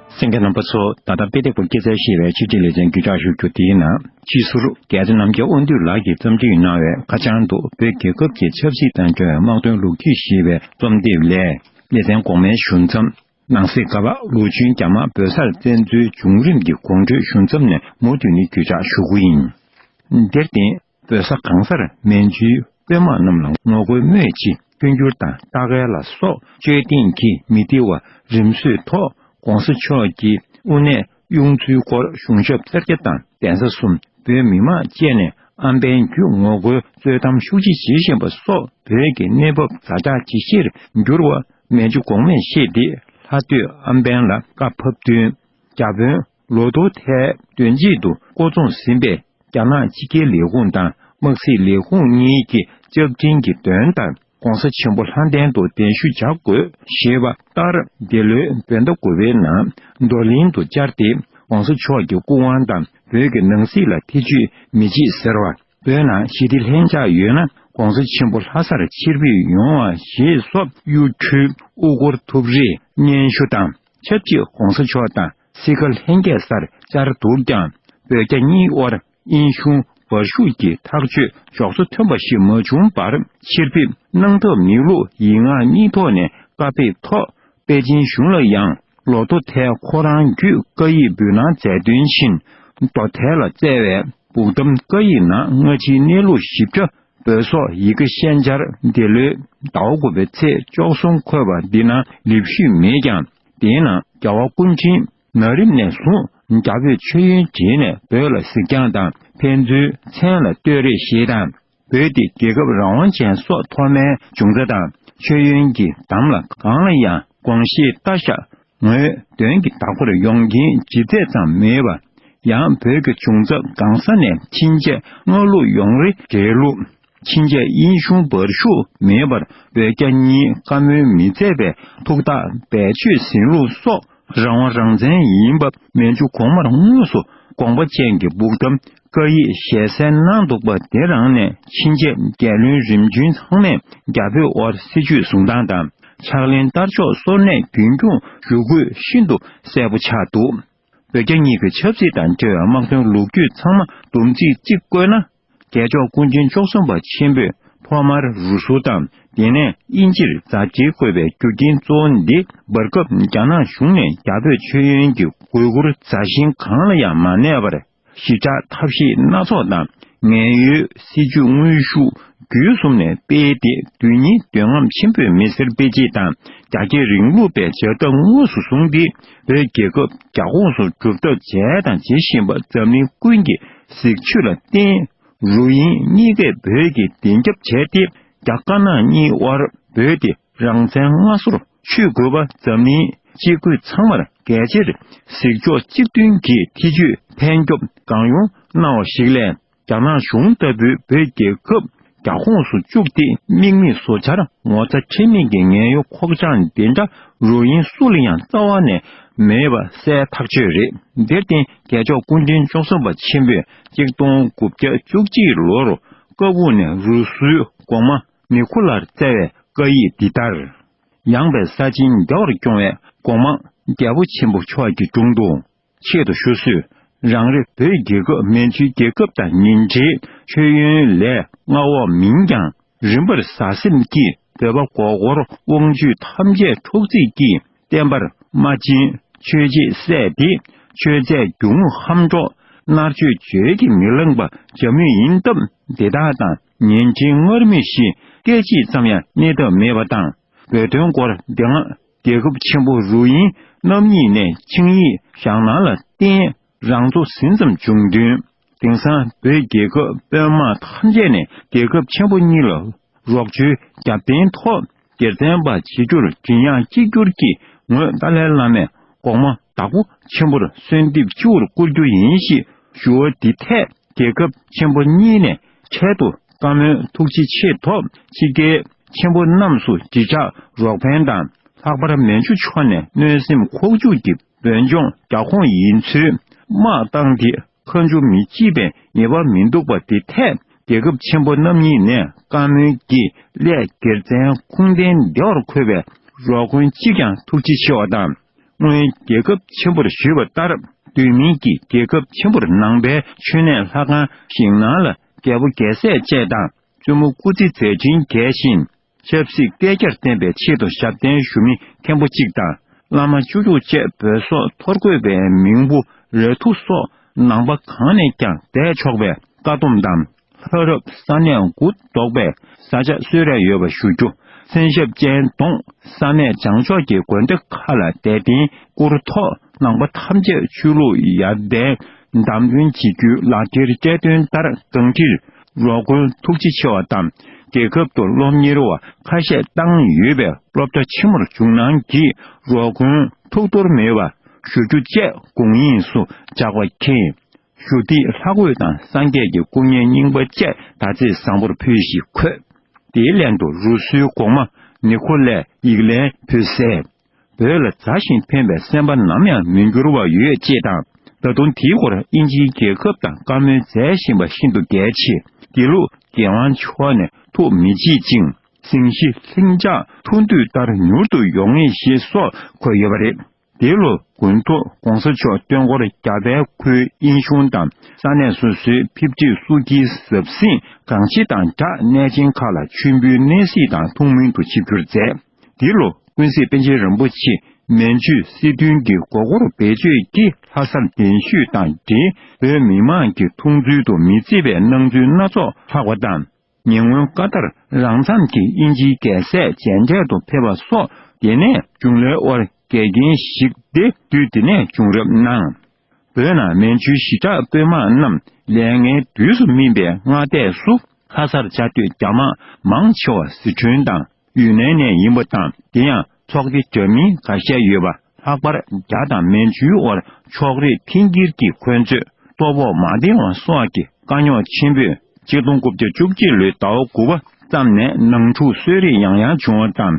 སེང་གེ་རྣམ་པ་ཚོ་ད་ལྟ་དཔེ་དེབ་སྐོར་སྐྱེལ་རྩལ་ཤེས་པའི་ཕྱི་རྒྱལ་ལས་བྱེད་འགྱུར་ལྕགས་ཞུ་རྒྱུ་དེའི་ནང་སྤྱི་ཟུར་རྒྱལ་ས་རྣམ་རྒྱལ་དབང་འདུས་ལགས་ཀྱིས་བརྩམས་སྒྲིག་གནང་བའི་ཁ་བྱང་དུ་བོད་རྒྱལ་ཁབ་ཀྱི་ཆབ་སྲིད་དང་འབྲེལ་བའི་དམག་དོན་ལུགས་ཀྱིས་ཞེས་པའི་རྩོམ་དེབ་ལས་སླེ་ཚན་གོང་མའི་གཞུང་མཚམས། ནང་གསེས་ཀ་བ་ལུའུ་ཅུན་རྒྱ་དམག་བོད་སར་བཙན་འཛུལ་བྱུང་རིམ་གྱི་གོང་འཕྲོས་གཞུང་མཚམས་ནས་མུ་མཐུད་ནི་འགྱུར་ལྕགས་ཞུ་དགུ་ཡིན། དེར་བརྟེན། བོད་ས་གང་སར་མན་ཇུའི་དཔོན་དམག་རྣམས་ལ་ངོ་རྒོལ་སྨོས་ཅི་སྐྱོན་སྒྱུར་དང་རྟ་རྒལ་ལ་སོགས་དཔྱོད་ལྡན་གྱིས་མི་བདེ་བ་རིམ་བཟོས་ཐོག ྋགོང་ས་མཆོག་གི་དབུ་གནས་དབྱུང་ཚུལ་སྐོར་གཞུང་ཞབས་སེར་སྐྱ་དང་གདན་ས་གསུམ་པོའི་མི་མང་བཅས་ནས་ཨམ་བན་བརྒྱུད་ངོ་རྒོལ་རྩོད་གཏམ་ཤུགས་ཆེ་བྱེད་བཞིན་པ་སོགས་བོད་ཀྱི་གནས་བབ་བརྫ་ཆགས་ཇི་བཞིར་འགྱུར་བ་མན་ཇུ་གོང་མས་ཤེས་ཏེ་ལྷ་སྟོད་ཨམ་བན་ལ་བཀའ་ཕབ་བསྟུན་རྒྱ་དཔོན་ལོ་སྟོང་ཐད་བདུན་རྗེས་དུ་བསྐོ་བཙོང་ཟིན་པའི་རྒྱ་ནག་སྤྱི་སྒེར་ལས་ཁུངས་དང་དམག་སྲིད་ལས་ཁུངས་གཉིས་ཀྱི་ལྕགས་ཀྲིན་གྱི་འདོན་ལྟར ྋགོང་ས་ཆེན་པོ་ལྷ་ལྡན་དུ་གདན་ཞུ་བྱ་དགོས་ཞེས་པ་ལྟར་འདི་ལོའི་བོད་ཟླ་དགུ་བའི་ནང་རྡོར་གླིང་དུ་བཅར་ཏེ ྋགོང་ས་མཆོག་གི་སྐུ་དབང་དང་བོད་ཀྱི་ནང་སྲིད་ལ་ཐེ་ཇུས་མི་བྱེད་ཟེར་བ། བོད་ནང་ཞི་བདེ་ལྷན་ཆགས་ཡོད་ན ྋགོང་ས་ཆེན་པོ་ལྷ་སར་ཕྱིར་འབུད་ཡོང་བ་ཞེས་སོགས་གཡུ་འཕྲུལ་དབུ་སྐོར་ཐུབ་རེ་སྙན་ཞུ་དང་ཆབས་ཅིག ྋགོང་ས་མཆོག་དང་སི་ཁ་ལྷན་རྒྱས་སར་བཅར་འདུག་ཀྱང་བོད་རྒྱ་གཉིས་དབར་དབྱིན་གཞུང་འབར་ཤུགས་ཀྱི་ཐག་གཅོད་འཇོག་ཚུལ་མཐུན་པ་ཞིག་མ་བྱུང་བར་ཕྱིར་ཕེབས་གནང་ཐབས་མེད་ལུགས་ཡིག་ངག་གཉིས་ཐོག་ནས་བཀའ་ཕེབས་ཐོག་པེ་ཅིན་གཞུང་ལ་ཡང་ལོ་རྡོ་ཐལ་ཁོ་རང་བརྒྱུད་བཀའ་ཡིག་འབུལ་གནང་མཛད་དོན་བཞིན་རྡོ་ཐལ་ལ་བསྩལ་བའི་སྦུག་གཏམ་བཀའ་ཡིག་ནང་སྔ་ཕྱིའི་གནས་ལུགས་ཞིབ་ཕྲ་འབོད་སོགས་ཡི་གེ་ཤན་སྦྱར་འདི་ལོའི་ཟླ་བ་དགུ་པའི་ཚེས་བཅོ་གསུམ་འཁོད་པ་འདི་ནང་ལེབ་ཤུལ་མེད་ཀྱང། དེའི་ནང་རྒྱལ་བ་ཀུན་མཁྱེན་ན་རིམ་ནས་བཟུང་རྒྱ་བོད་མཆོད་ཡོན་བྱས་ནས་བོད་ལ་གཟིགས་རྒྱང་དང་ཕན་ཚུན་མཚན་ལ་ལྟོས་རེ་ཞེས་དང་བོད་དེ་རྒྱལ་ཁབ་རང་དབང་ཅན་སོགས་ཐོག་མའི་འབྱུང་རྩ་དང་མཆོད་ཡོན་གྱི་དམ་ལ་གང་ལ་ཡང་དགོངས་བཞེས་བལྟ་བཞག་ངོས་དོན་གྱི་བདག་པོར་ཡོང་རྐྱེན་ཇི་ཚད་ཙམ་མེད་པ། ཡང་བོད་ཀྱི་འབྱུང་རྩ་སྒང་ས་ནས་ཕྱིན་ཆད་སྔ་ལུགས་ཡོང་རེ་རྗེས་ལུགས་ཕྱིན་ཆད་དབྱིན་གཞུང་འབར་ཤུགས་མེད་པར་བོད་རྒྱ་གཉིས་བཀའ་མོལ་མི་མཛད་པའི་ཐུགས་ཐག་རྦད་ཆོད་ཟིན་ལུགས་སོགས་རང་དབང་རང་བཙན་ཡིན་པ་མན་ཇུ་གོང་མར་དངོས་སུ་དགོངས་པ་ཅན་གྱི་སྦུག་དང་བཀའ་ཡིག་ཞལ་གསལ་གནང་འདུག་པ་དེ་རང་ནས་ཕྱིན་ཆད་རྒྱལ་བློན་རིམ་བྱོན་ཚང་མས་རྒྱ་བོད་དབར་སྲིད་ཇུས་བཟུང་སྟངས་དང་ཕྱག་ལེན་བསྟར་ཕྱོགས་སོར་གནས་རྒྱུན་སྐྱོང་ཞུ་དགོས་ཤིན་ཏུ་གསལ་པོ་ཆགས་འདུག་བོད་རྒྱ་གཉིས་ཀྱི་ཆབ་སྲིད་དང་འབྲེལ་བའི་དམག་དོན་ལུགས་རྒྱུད་ཚང་མ་བསྡོམས་ཚིག་གཅིག་བཀོད་ན། རྒྱལ་མཆོག་སྐུ་མཁྱེན་མཆོག་གསུམ་པ་ཆེན་པོས་ཐོག་མར་རུ་སུར་དང་དེ་ནས་དབྱིན་ཇིར་རྫ་དཀྱིལ་བཀོད་པའི་རྒྱུ་རྐྱེན་གཙོ་བོ་འདི་འབར་སྐབས་རྒྱ་ནག་གཞུང་ནས་རྒྱ་བོད་མཆོད་ཡོན་གྱི་དགོས་མཁོར་རྫ་ཤིང་གང་ལ་ཡང་མ་གནས་པར་ཞི་དྲག་ཐབས་ཤེས་སྣ་ཚོགས་དང་ངན་གཡོའི་སྲིད་ཇུས་དངོས་ཤུགས་བརྒྱུད་གསུམ་ནས་སྤེལ་ཏེ་དུས་ཉིས་འདོད་རྔམ་ཆེན་པོས་མི་སེར་སྤེལ་སྤྱད་དང་རྒྱ་སྐྱེད་རིང་ལུགས་པའི་བྱ་ཐབས་དངོས་སུ་བཟུང་སྟེ་བོད་རྒྱལ་ཁབ་རྒྱ་ཁོངས་སུ་གྲུབ་མཐའ་བྱས་དང་བྱེད་བཞིན་པ་འཛམ་གླིང་ཀུན་གྱི་གཟིགས་ཕྱོད་ལ་བརྟེན། རུ་དབྱིན་གཉིས་ཀས་བོད་ཀྱི་བདེན་རྒྱབ་བྱས་ཏེ་རྒྱ་དཀར་ནག་གཉིས་དབར་བོད་དེ་རང་བཙན་སྔ་སོར་ཆུད་དགོས་པ་འཛམ་གླིང་སྤྱི་རྒོད་ཚང་མར་གལ་ཆེར་གཟིགས་ཕྱོགས་གཅིག་མཐུན་གྱི་ཐེ་ཇུས་ཕན་སྐྱོབ་གང་ཡོང་གནང་བ་ཞིག་ལས། རྒྱ་ནག་གཞུང་ལྟ་བུའི་བོད་རྒྱལ་ཁབ་རྒྱ་ཁོངས་སུ་བཅུག་སྟེ་དམིགས་མེད་བཟོ་འཆར་ངོ་ཚ་ཁྲེལ་མེད་ཀྱི་ངན་གཡོ་ཁོག་བཅངས་འདི་འདྲ་རུ་དབྱིན་སུ་ལ་ཡང་རྩ་བ་ནས་མེད་པ་གསལ་ཐག་ཆོད་རེད་དེར་བརྟེན་རྒྱལ་མཆོག་སྐུ་འཕྲེང་བཅུ་གསུམ་པ་ཆེན་པོས་གཅིག་སྟོང་དགུ་བརྒྱ་བཅུ་གཅིག་ལོར་བཀའ་དབུགས་ནས་རུ་སུའི་གོང་མ་མི་ཁུ་ལར་སྩལ་བའི་བཀའ་ཡིག་འདི་ལྟར། ཡངས་པའི་ས་ཆེན་རྒྱ་བར་སྐྱོང་བའི་གོང་མ་རྒྱལ་པོ་ཆེན་པོ་མཆོག་གི་དྲུང་དུ། ཆེད་དུ་ཞུ་གསོས་རང་རེ་བོད་རྒྱལ་ཁབ་མན་ཇུའི་རྒྱལ་ཁབ་དང་ཉིན་རྗེའི་མཆོད་ཡོན་ལས་མངའ་འོག་མིན་ཀྱང་རིམ་པར་བཟའ་སེམས་ཀྱིས་འདོད་པ་མགོ་སྐོར་དབང་བཅུད་ཐམས་ཅད་ཁྲོག་རྩིས་ཀྱིས་བརྟན་པར་སྨྲ་ཅིང་ཆོས་རྗེས་སད་དེ་ཆོས་མཛད་རྒྱུ་དངོས་ཧམ་སྒྲོག་མནར་གཅོད་བརྗོད་ཀྱིས་མི་ལངས་པ་བྱ་མུས་ཡིན་སྟབས་འདི་དག་དང་ཉིན་རྗེའི་སྔར་མུས་བཞིན་སྐད་ཅིག་ཙམ་ཡང་གནས་ཐབས་མེད་པ་དང་འབོད་དོན་སྐོར་འདི་སྔ་རྒྱལ་ཁབ་ཆེན་པོ་རུ་དབྱིན་རྣམ་གཉིས་ནས་ཆིངས་ཡིག་བཞག་གནང་ལ་བརྟེན་རང་ཚོ་ཟིན་ཙམ་བྱུང་བསྟུན། དེང་སང་བོད་རྒྱལ་ཁབ་དཔོན་དམག་ཐམས་ཅད་ནས་རྒྱལ་ཁབ་ཆེན་པོ་གཉིས་ལ་རོགས་བྱོའི་རྒྱབ་རྟེན་ཐོག་སྒེར་བཙན་པ་བྱེད་རྒྱུར་ཇི་ཡང་གཅིག་གྱུར་གྱི་ངོས་ཏཱ་ལའི་བླ་མས་གོང་མ་དྭགས་པོ་ཆེན་པོར་གསོལ་འདེབས་སྤྱི་བོར་བསྐུར་རྒྱུ་ཡིན་ཞེས་ཞུ་བ་འདི་ཐད་རྒྱལ་ཁབ་ཆེན་པོ་གཉིས་ནས་འཕྲལ་དུ་བཀའ་མོལ་ཐུགས་རྗེ་ཆེ་ཐོབ་ཆིག་སྒྲིལ་མཁན་པོ་རྣམས་སུ་བརྗིད་ཆགས་རོགས་ཕན་དང་ལྷག་པར་མན་ཇུ་ཕྱོགས་ནས་གནོད་སེམས་ཁོག་འཇུག་གི་འབོད་ལྗོངས་རྒྱ་ཁོངས་ཡིན་ཚུལ་དམག་བཏང་དེ་ཁ་མཆུ་མི་བྱེད་པའི་ངེས་པ་མི་འདུག་པ་དེ་ཐད་རྒྱལ་ཁབ་ཆེན་པོ་རྣམ་གཉིས་ནས་བཀའ་མོལ་གྱི་སླད་སྒེར་བཙན་ཁུངས་ལྡན་བདེ་བར་འཁོད་པའི་རོགས་མགོན་གཅིག་ཀྱང་ཐུགས་རྗེ་ཆེ་བ་དང། སྔོན་རྒྱལ་ཁབ་ཆེན་པོར་བཞུད་པ་ལྟར་དུས་མིན་གྱི་རྒྱལ་ཁབ་ཆེན་པོར་ནང་པའི་མཆོད་གནས་ལྷ་ཁང་ཞིག་ནང་ལ་རྒྱལ་པོ་རྒྱལ་སྲས་བཅས་དང་བཙུན་མོ་སྐུ་ཚེ་མཛད་ཕྱིན་རྒྱས་བཞིན་ཆབ་སྲིད་བསྐལ་བརྒྱར་བརྟན་པའི་ཆེད་དུ་ཞབས་བརྟན་ཞུ་མི་མཁན་པོ་གཅིག་དང་བླ་མ་བཅུ་དྲུག་བཅས་བོད་སོག་ཐོར་བཀོད་པའི་མིང་པོ་རལ་ཐུག་སོགས་ནང་པ་གང་ནས་ཀྱང་བསྡད་ཆོག་པའི་བཀའ་སྡོམ་དང། ལྷོ་རབ་ས་གནས་གུ་དོག་པས་ས་ཆ་གསོད་རན་ཡོད་པ་ཞུ་རྒྱུ་མཚན་ཞབས་ཅན་གདོང་ས་གནས་བྱང་ཕྱོགས་ཀྱི་དགོན་སྡེ་ཁ་ལ་དད་རྟེན་བསྐུར་ཐོག་ནང་པ་ཐམས་ཅད་ཆོས་ལུགས་ཡར་ལྡན་བདམས་ཐོན་བྱེད་རྒྱུའི་ལག་འཁྱེར་བསྐྱལ་དོན་ལྟར་གངས་ཏི་རོ་དགོན་ཐུགས་རྗེ་ཆེ་བ་དང་རྒྱལ་ཁབ་ཏུ་སློབ་གཉེར་བ་ཁ་ཤས་བཏང་ཡོད་པའི་སློབ་གྲྭ་ཆེན་མོར་ཇུག་ནང་གི་རོགས་མགོན་ཐུགས་གཏོར་མེད་པ་ཞུ་རྒྱུ་བཅས་དགོངས་དབྱིངས་སུ་འཇགས་པ་མཁྱེན། ཞུ་བདེ་ལྷ་གོས་དང་སངས་རྒྱས་ཀྱི་སྐུ་བརྙན་རྙིང་པ་བཅས་ཟླ་ཚེས་བཟང་པོར་ཕུལ་ཞིག་འཁོད། དེའི་ལན་དུ་རུ་སུའི་གོང་མ་ནེ་ཁོ་ལས་ཡིག་ལན་ཕུལ་གསལ། བོད་ལ་མཛའ་ཞིང་ཕན་པའི་སེམས་པ་ནམ་ཡང་མི་འགྱུར་བ་ཡོད་ཅེས་དང་ད་དུང་དེའི་སྐོར་དབྱིན་ཇིའི་རྒྱལ་ཁབ་དང་བཀའ་མོལ་མཛད་བཞིན་པ་ཤིན་ཏུ་གལ་ཆེ་དགེ་ལུགས་རྒྱལ་དབང་མཆོག་ནས་ཐུགས་མི་བརྗེད་ཅིང་སེང་ཞི་ལྷིང་འཇགས་ཐུགས་འདུད་ལྟར་མྱུར་དུ་ཡོང་ངེས་ཞེས་སོགས་འཁོད་ཡོད་པ་རེད། འདི་ལོ་དགུན་མཐོ ྋགོང་ས་མཆོག་སྟོན་འཁོར་རྒྱ་བལ་ཁུལ་དབྱིན་གཞུང་དང་ས་གནས་སོ་སོའི་ཕེབས་བསྒྲིགས་སུ་གྱི་ཟབ་ཟིང་གང་ཆེ་དང་སྦྲགས་གནས་ཆེན་ཁག་ལ་མཆོད་འབུལ་གནས་གཟིགས་དང་ཐུགས་སྨོན་དུ་ཆིབས་བསྒྱུར་མཛད། འདི་ལོ་ཀུན་གཟིགས་པཎ་ཆེན་རིན་པོ་ཆེ་མན་ཇུ་སི་ཐུན་གྱི་མགོ་སྐོར་བེད་སྤྱོད་ཀྱིས་ལྷ་སར་གདན་ཞུས་དང་འབྲེལ་བོད་མི་མང་གི་འཐུང་ཚུལ་དུ་མི་བརྩི་བའི་སྣང་ཚུལ་སྣ་ཚོགས་ལྷགས་པ་དང། ཉེ་སྔོན་བཀའ་ལྟར་རང་འཚམས་ཀྱིས་དབྱིན་ཇིའི་རྒྱལ་སྲས་མཇལ་འཕྲད་དུ་ཕེབས་པ་སོགས་དེ་ནས་བྱུང་ལོའི་དབར་འགལ་རྐྱེན་ཞིག་སྟེ་དུས་དེ་ནས་བྱུང་རབས་གནང། བོད་ནང་མན་ཇུའི་ཞི་དྲག་དཔོན་དམག་རྣམས་ལས་ལྔའི་དུས་སུ་སྨིན་པའི་སྔ་ལྟས་སུ་ལྷ་སར་བཅའ་སྡོད་རྒྱ་དམག་མང་ཆེ་བ་ཟི་ཁྲོན་དང། ཡུན་ནན་ནས་ཡིན་པ་དང་དེ་ཡང་ཚོགས་སྡེ་འདྲ་མིན་འགའ་ཤས་ཡོད་པ་ལྷག་པར་རྒྱ་དང་མན་ཇུའི་དབར་ཕྱོགས་རིས་མཐིང་སྐྱིར་གྱི་འཁོན་རྩོད་སྟོབས་འོག་མ་བདེ་བ་སོགས་ཀྱི་དཀའ་རྙོག་ཆེན་པོས་སྤྱི་སྟོང་དགུ་བརྒྱ་བཅུ་གཅིག་ལོའི་ཟླ་བ་དགུ་པ་ཙམ་ནས་ནང་འཁྲུག་གསོད་རེས་ཡང་ཡང་བྱུང་བ་དང་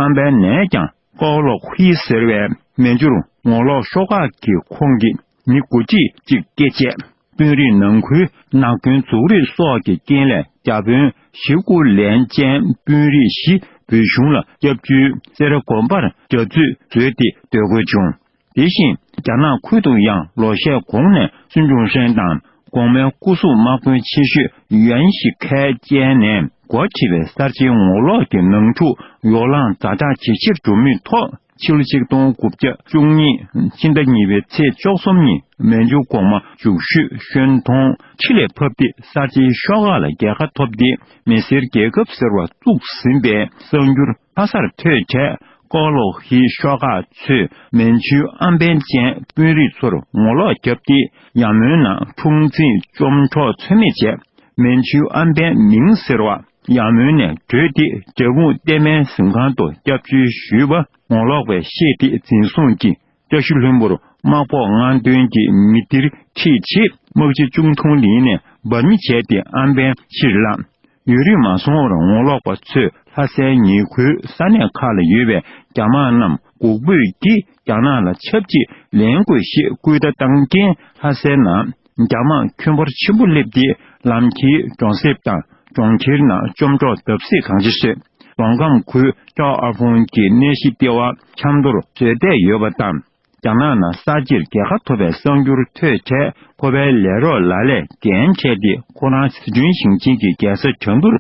ཨམ་པའི་ནད་ཀྱང་ཨོ་ལོག་ཧུའེ་ཟེར་བའི་མན་ཇུར་ངོ་ལོག་ཤོག་ཁག་གི་ཁོངས་ཀྱི་མི་དགུ་གཅིག་གཅིག་བཀས་བཅད། དཔོན་རིགས་ནང་ཁུལ་ནག་སྐྱོན་འཛུགས་རིགས་སོགས་ཀྱི་རྐྱེན་ལས་རྒྱ་དཔོན་བཞི་སྐུ་ལན་ཅན་དཔོན་རིགས་བཞི་བོད་གཞུང་ལ་སྐྱབས་བཅོལ་སེར་སྒོམ་པར་རྒྱ་མཚོས་བཟོས་ཏེ་སྡོད་དགོས་བྱུང། དེ་བཞིན་རྒྱ་ནག་ཁུལ་དུ་ཡང་ལོ་ཤས་གོང་ནས་སུན་ཅུང་ཧྲེང་དང་གོང་མའི་སྐུ་གཟུགས་དམག་དཔོན་ཆེ་ཤོས་ཡུའན་ཞི་ཁའེ་བཅས་ནས་མགོ་ཁྲིད་པའི་གསར་བརྗེའི་ངོ་ལོག་གི་ནང་འཁྲུག་ཡོ་ལང་རྫ་དྲག་ཇེ་ཆེར་འགྲོ་མུས་ཐོག་ཕྱི་ལོ་ཆིག་སྟོང་དགུ་བརྒྱ་བཅུ་གཉིས་ཕྱི་ཟླ་གཉིས་པའི་ཚེས་བཅོ་གསུམ་ཉིན་མན་ཇུ་གོང་མ་འཇུག་ཤུས་ཤོན་ཐོང་ཁྲི་ལས་ཕབ་སྟེ་གསར་བརྗེའི་ཤོག་ཁག་ལ་རྒྱལ་ཁ་ཐོབ་སྟེ་མི་སེར་རྒྱལ་ཁབ་ཟེར་བ་བཙུགས་ཟིན་པའི་གསར་འགྱུར། ལྷ་སར་ཐོས་འཕྲལ་ཀོའུ་ལོ་ཧི་ཤོག་ཁག་ཚོས་མན་ཇུའི་ཨམ་བན་ཅན་དཔོན་རིགས་ཚོར་ངོ་ལོག་བརྒྱབ་སྟེ་ཡར་མོའི་ནང་འཁྲུག་འཛིང་བཅོམ་འཕྲོག་ཚོད་མེད་བྱས། མན་ཇུའི་ཨམ་བན་མིང་ཟེར་བ་ཡར་མོའི་ནས་བྲོས་ཏེ་འབྲས་སྤུངས་གཏེར་མའི་གཟིམ་ཁང་དུ་སྐྱབས་བཅོལ་ཞུས་པ་ངོ་ལོག་པས་ཤེས་ཏེ་འཛིན་བཟུང་གིས་བཀྲ་ཤིས་ལྷུན་པོར་དམག་ཕོག་ང་མདུན་གྱི་མི་སྡེར་ཁྲིད་ཆེད་དམག་སྤྱི་ཅུང་ཐུང་ལིན་ནས་འབར་མི་བྱས་ཏེ་ཨམ་བན་ཕྱིར་བླངས། ཡུན་རིང་མ་སོང་བར་ངོ་ལོག་པ་ཚོས་ལྷ་སའི་ཉེ་ཁུལ་ས་གནས་ཁག་ལ་ཡོད་པའི་རྒྱ་དམག་རྣམས་འགུག་འབོད་ཀྱིས་རྒྱ་ནག་ལ་ཆབས་ཅིག་ལེན་དགོས་ཞེས་སྐུལ་བརྡ་བཏང་རྐྱེན་ལྷ་སའི་ནང་རྒྱ་དམག་ཁྱོན་འབོར་ཆེན་པོ་བསླེབས་ཏེ་ལམ་ཁྱེར་གྱོང་གསེབ་དང་གྲོང་ཁྱེར་ནང་བཅོམ་འཕྲོག་བརྡབ་གསིག་གང་ཆེ་བྱས། རྫོང་ཁམས་ཁུལ་ཅའོ་ཨ་ཧྥུན་གྱི་གནས་གཞི་ལྟེ་བ་ཆབ་མདོར་བཟོས་བསྡད་ཡོད་པ་དང། རྒྱ་ནག་ནང་གསར་བརྗེར་རྒྱལ་ཁ་ཐོབ་པའི་གསར་འགྱུར་ཐོས་འཕྲལ་ཁོ་པའི་ལས་རོགས་ལ་ལས་འགན་ཕྲད་དེ་ཁོ་རང་ཟི་ཁྲོན་ཞིང་ཆེན་གྱི་རྒྱལ་ས་བྱང་ཀུར་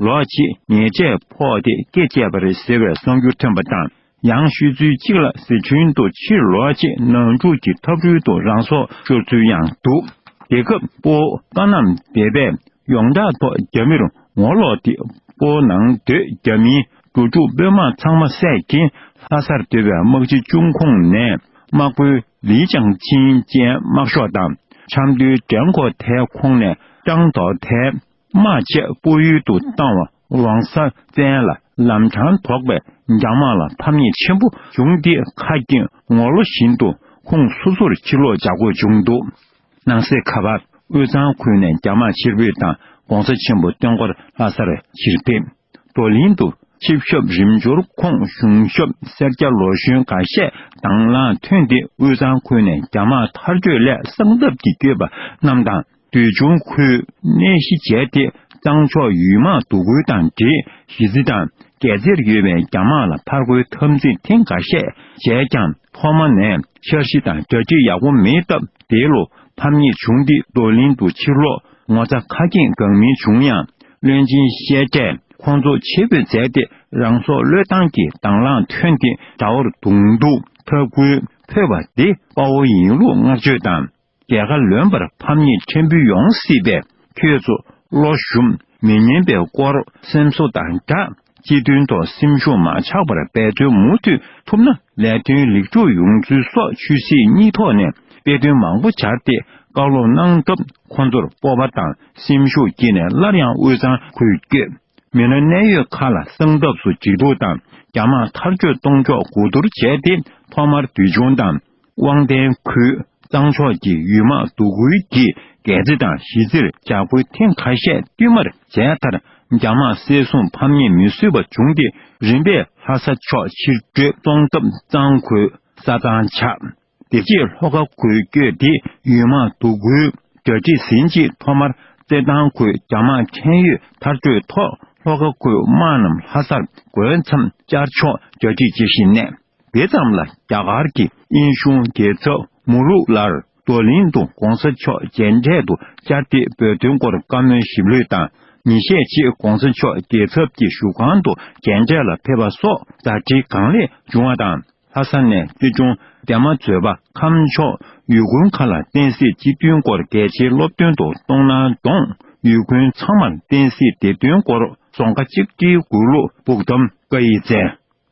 ལོག་ཆེད་ཉལ་ཆས་ཕོག་སྟེ་སྐེ་བཅད་པ་རེད་ཟེར་བའི་གསར་འགྱུར་ཐོན་པ་དང་ཡང་ཤོད་ཚུལ་གཅིག་ལ་ཟི་ཁྲོན་དུ་ཕྱིར་ལོག་ཆེད་ནང་འཁྲུག་གི་འཐབ་རོལ་དུ་རང་སྲོག་ཤོར་ཚུལ་ཡང་འདུག་དེ་སྐབས་སྤོ་བཀའ་རྣམ་སྡེ་པས་ཡོངས་གྲགས་ཐོག་རྒྱ་མིར་ངོ་ལོག་སྟེ་སྤོ་ནང་སྡོད་རྒྱ་མིའི་རྒྱུ་དྲུག་དཔོན་དམག་ཚང་མ་བསད་ཀྱིན་ལྷ་སར་སྡོད་པའི་དམག་སྤྱི་ཅུང་ཁོང་ནས་དམག་དཔོན་ལི་ཅང་ཆིན་བཅས་དམག་ཤོག་དང་ཆབ་མདོའི་འགྲན་འཁོར་དེ་ཁོང་ནས་སྤྲང་ཐོག་དེ་དམག་ཆས་སྤོ་ཡུལ་དུ་བཏང་བ་ཝང་ས་ཙན་ལ་ལམ་འཕྲང་དོགས་པས་རྒྱ་དམག་ལ་ཕམ་ཉེས་ཆེན་པོ་བྱུང་སྟེ་ཁ་སྐྱེངས་ངོ་ལོ་བཞིན་དུ་ཁོང་སོ་སོར་ཕྱིར་ལོག་བྱ་དགོས་བྱུང་འདུག་ནང་གསེས་ཁ་པར་དབུས་གཙང་ཁུལ་ནས་རྒྱ་དམག་ཕྱིར་འབུད་དང ྋགོང་ས་ཆེན་པོ་སྟོན་འཁོར་ལྷ་སར་ཕྱིར་ཕེབས། རྡོ་གླིང་དུ་ཆིབས་ཞབས་རིམ་འབྱོར་ཁོངས་གཞུང་ཞབས་སེར་སྐྱ་ལོ་གཞོན་འགའ་ཤས་དང་བླངས་ཐོན་ཏེ་དབུས་གཙང་ཁུལ་ནས་རྒྱ་དམག་མཐར་སྐྲོད་སླད་གསང་སྟབས་ཀྱིས་བསྐྱོད་པ་རྣམས་དང་འདུལ་ཆུང་ཁུལ་གནས་གཞི་བྱས་ཏེ་གཙང་ཕྱོགས་ཡུལ་དམག་འདུ་སྐུལ་དང་འདྲེས་གཞི་རྩི་དང་རྒྱལ་རྩེར་ཡོད་པའི་རྒྱ་དམག་ལ་ཕར་རྒོལ་འཐབ་འཛིང་ཐེངས་འགའ་ཤས་བྱས་ཀྱང་ཐོག་མ་ནས་འཆར་གཞི་དང་གྲ་སྒྲིག་ཡག་པོ་མེད་སྟབས་འདས་ལོ་ཕམ་ངེས་བྱུང་སྟེ་རྡོ་གླིང་དུ་ཕྱིར་ལོག་ངོ་ཚ་ཁ་སྐྱེངས་འགག་མི་བྱུང་ཡང་བློན་ཆེན་བཤད་གྲས་ཁོང་ཚོ་ཆེད་འབོད་མཛད་དེ་རང་སྲོག་བློས་བཏང་གི་དྭང་བླངས་ཐོན་དེ་དགྲ་བོར་གདུང་སྡུག་ཐབས་བཀོད་ཕོད་པ་འདི་དཔའ་བོ་ཡིན་ལུགས་བསྔགས་བརྗོད་དང་རྒྱལ་ཁ་ལོན་པར་ཕམ་ཉེས་ཕྲན་བུ་ཡོང་སྲིད་པས་ཁྱོད་ཚོ་བློ་ཞུམ་མི་ཉན་པའི་སྐོར་སེམས་གསོ་དང་སྦྲགས། སྤྱི་དོན་དང་སེམས་གཞུང་མ་ཆག་པར་འབད་བརྩོན་མུ་མཐུད་ཐུབ་ན་ལས་དོན་ལེགས་གྲུབ་ཡོང་ཚུལ་སོགས་ཆོས་སྲིད་གཉིས་ཐོག་ནས་དཔེ་སྟོན་མང་པོ་བྱར་ཏེ་བཀའ་སློབ་གནང་སྐབས་ཁོ་ཚོར་སྤོབས་པ་དང་སེམས་ཤུགས་སྐྱེས་ནས་སླར་ཡང་དབུས་གཙང་ཁུལ་བསྐྱོད་མི་སྣ་གནད་ཡོད་ཁག་ལ་གསང་སྟབས་སུ་འཇིགས་སྡུག་དང་རྒྱ་དམག་མཐར་སྐྱོད་གཏོང་ཕྱོགས་གོ་བསྡུར་བྱས་ཏེ་ཐོག་མར་དུས་ཆུང་དང། དབང་ལྡན་ཁུལ་གཙང་ཕྱོགས་ཀྱི་ཡུལ་དམག་སྡུག་ཁུལ་གྱིས་འགད་རྫི་དང་གཞིས་རྩེར་ཇག་རྐུན་ཐེངས་ཁ་ཤས་བསྟུད་མར་མཇལ་མཐར་རྒྱ་དམག་བསད་སྲུང་ཕམ་ཉེས་མི་བཟོད་པ་བྱུང་སྟེ་རིམ་པས་ལྷ་ས་ཕྱོགས་ཕྱིར་བྲོས་གཏོང་སྐབས་གཙང་ཁུལ་ས་གཙང་ཆགས། དེ་རྗེས་ལྷོ་ཁ་ཁུལ་བསྐྱོད་དེ་ཡུལ་དམག་སྡུག་ཁུལ་དགྲ་སྒྲིག་ཟིན་རྗེས་ཐོག་མར་རྩེ་ལྡང་ཁུལ་རྒྱ་དམག་འཕྲན་ཡོད་མཐར་བྲོས་ཐོག་ལྷོ་ཁ་ཁུལ་དམག་རྣམས་ལྷ་སར་འགོས་མཚམས་བཅར་ཆོག་རྒྱ་སྒྲིག་བྱེད་བཞིན་གནས། དེ་ཙམ་ལ་རྒྱ་གར་གྱི་དབྱིན་གཞུང་རྒྱལ་ཚབ་མུ་རུག་ལར་རྡོ་གླིང་དུ་གོང་ས་མཆོག་མཇལ་འཕྲད་དུ་བཅར་ཏེ་བོད་དོན་སྐོར་བཀའ་མོལ་ཞིབ་ལྷོད་དང་ཉིན་ཤས་རྗེས་གོང་ས་མཆོག་རྒྱལ་ཚབ་ཀྱི་བཞུགས་ཁང་དུ་མཇལ་འཕྲད་ལ་ཕེབས་པ་སོགས་ཟླ་སྒྲིལ་གང་ལེགས་བྱུང་བ་དང་ལྷ་ས་ནས་སྐྱིད་ཆུང་རྒྱ་མ་མཛོད་པ་ཁམས་ཕྱོགས་ཡུལ་དགོན་མཁར་ལ་བསྟན་སྲིད་སྤྱི་མཐུན་སྐོར་གལ་ཆེའི་སློབ་སྟོན་དུ་གཏོང་གནང་གདོང་ཡུལ་དགོན་ཚང་མར་བསྟན་སྲིད་བདེ་དོན་སྐོར་ཟོང་ཁ་གཅིག་སྒྲིལ་མགུར་གླུ་སྦུག་གདམ་ཀ་ཡི་རྩལ།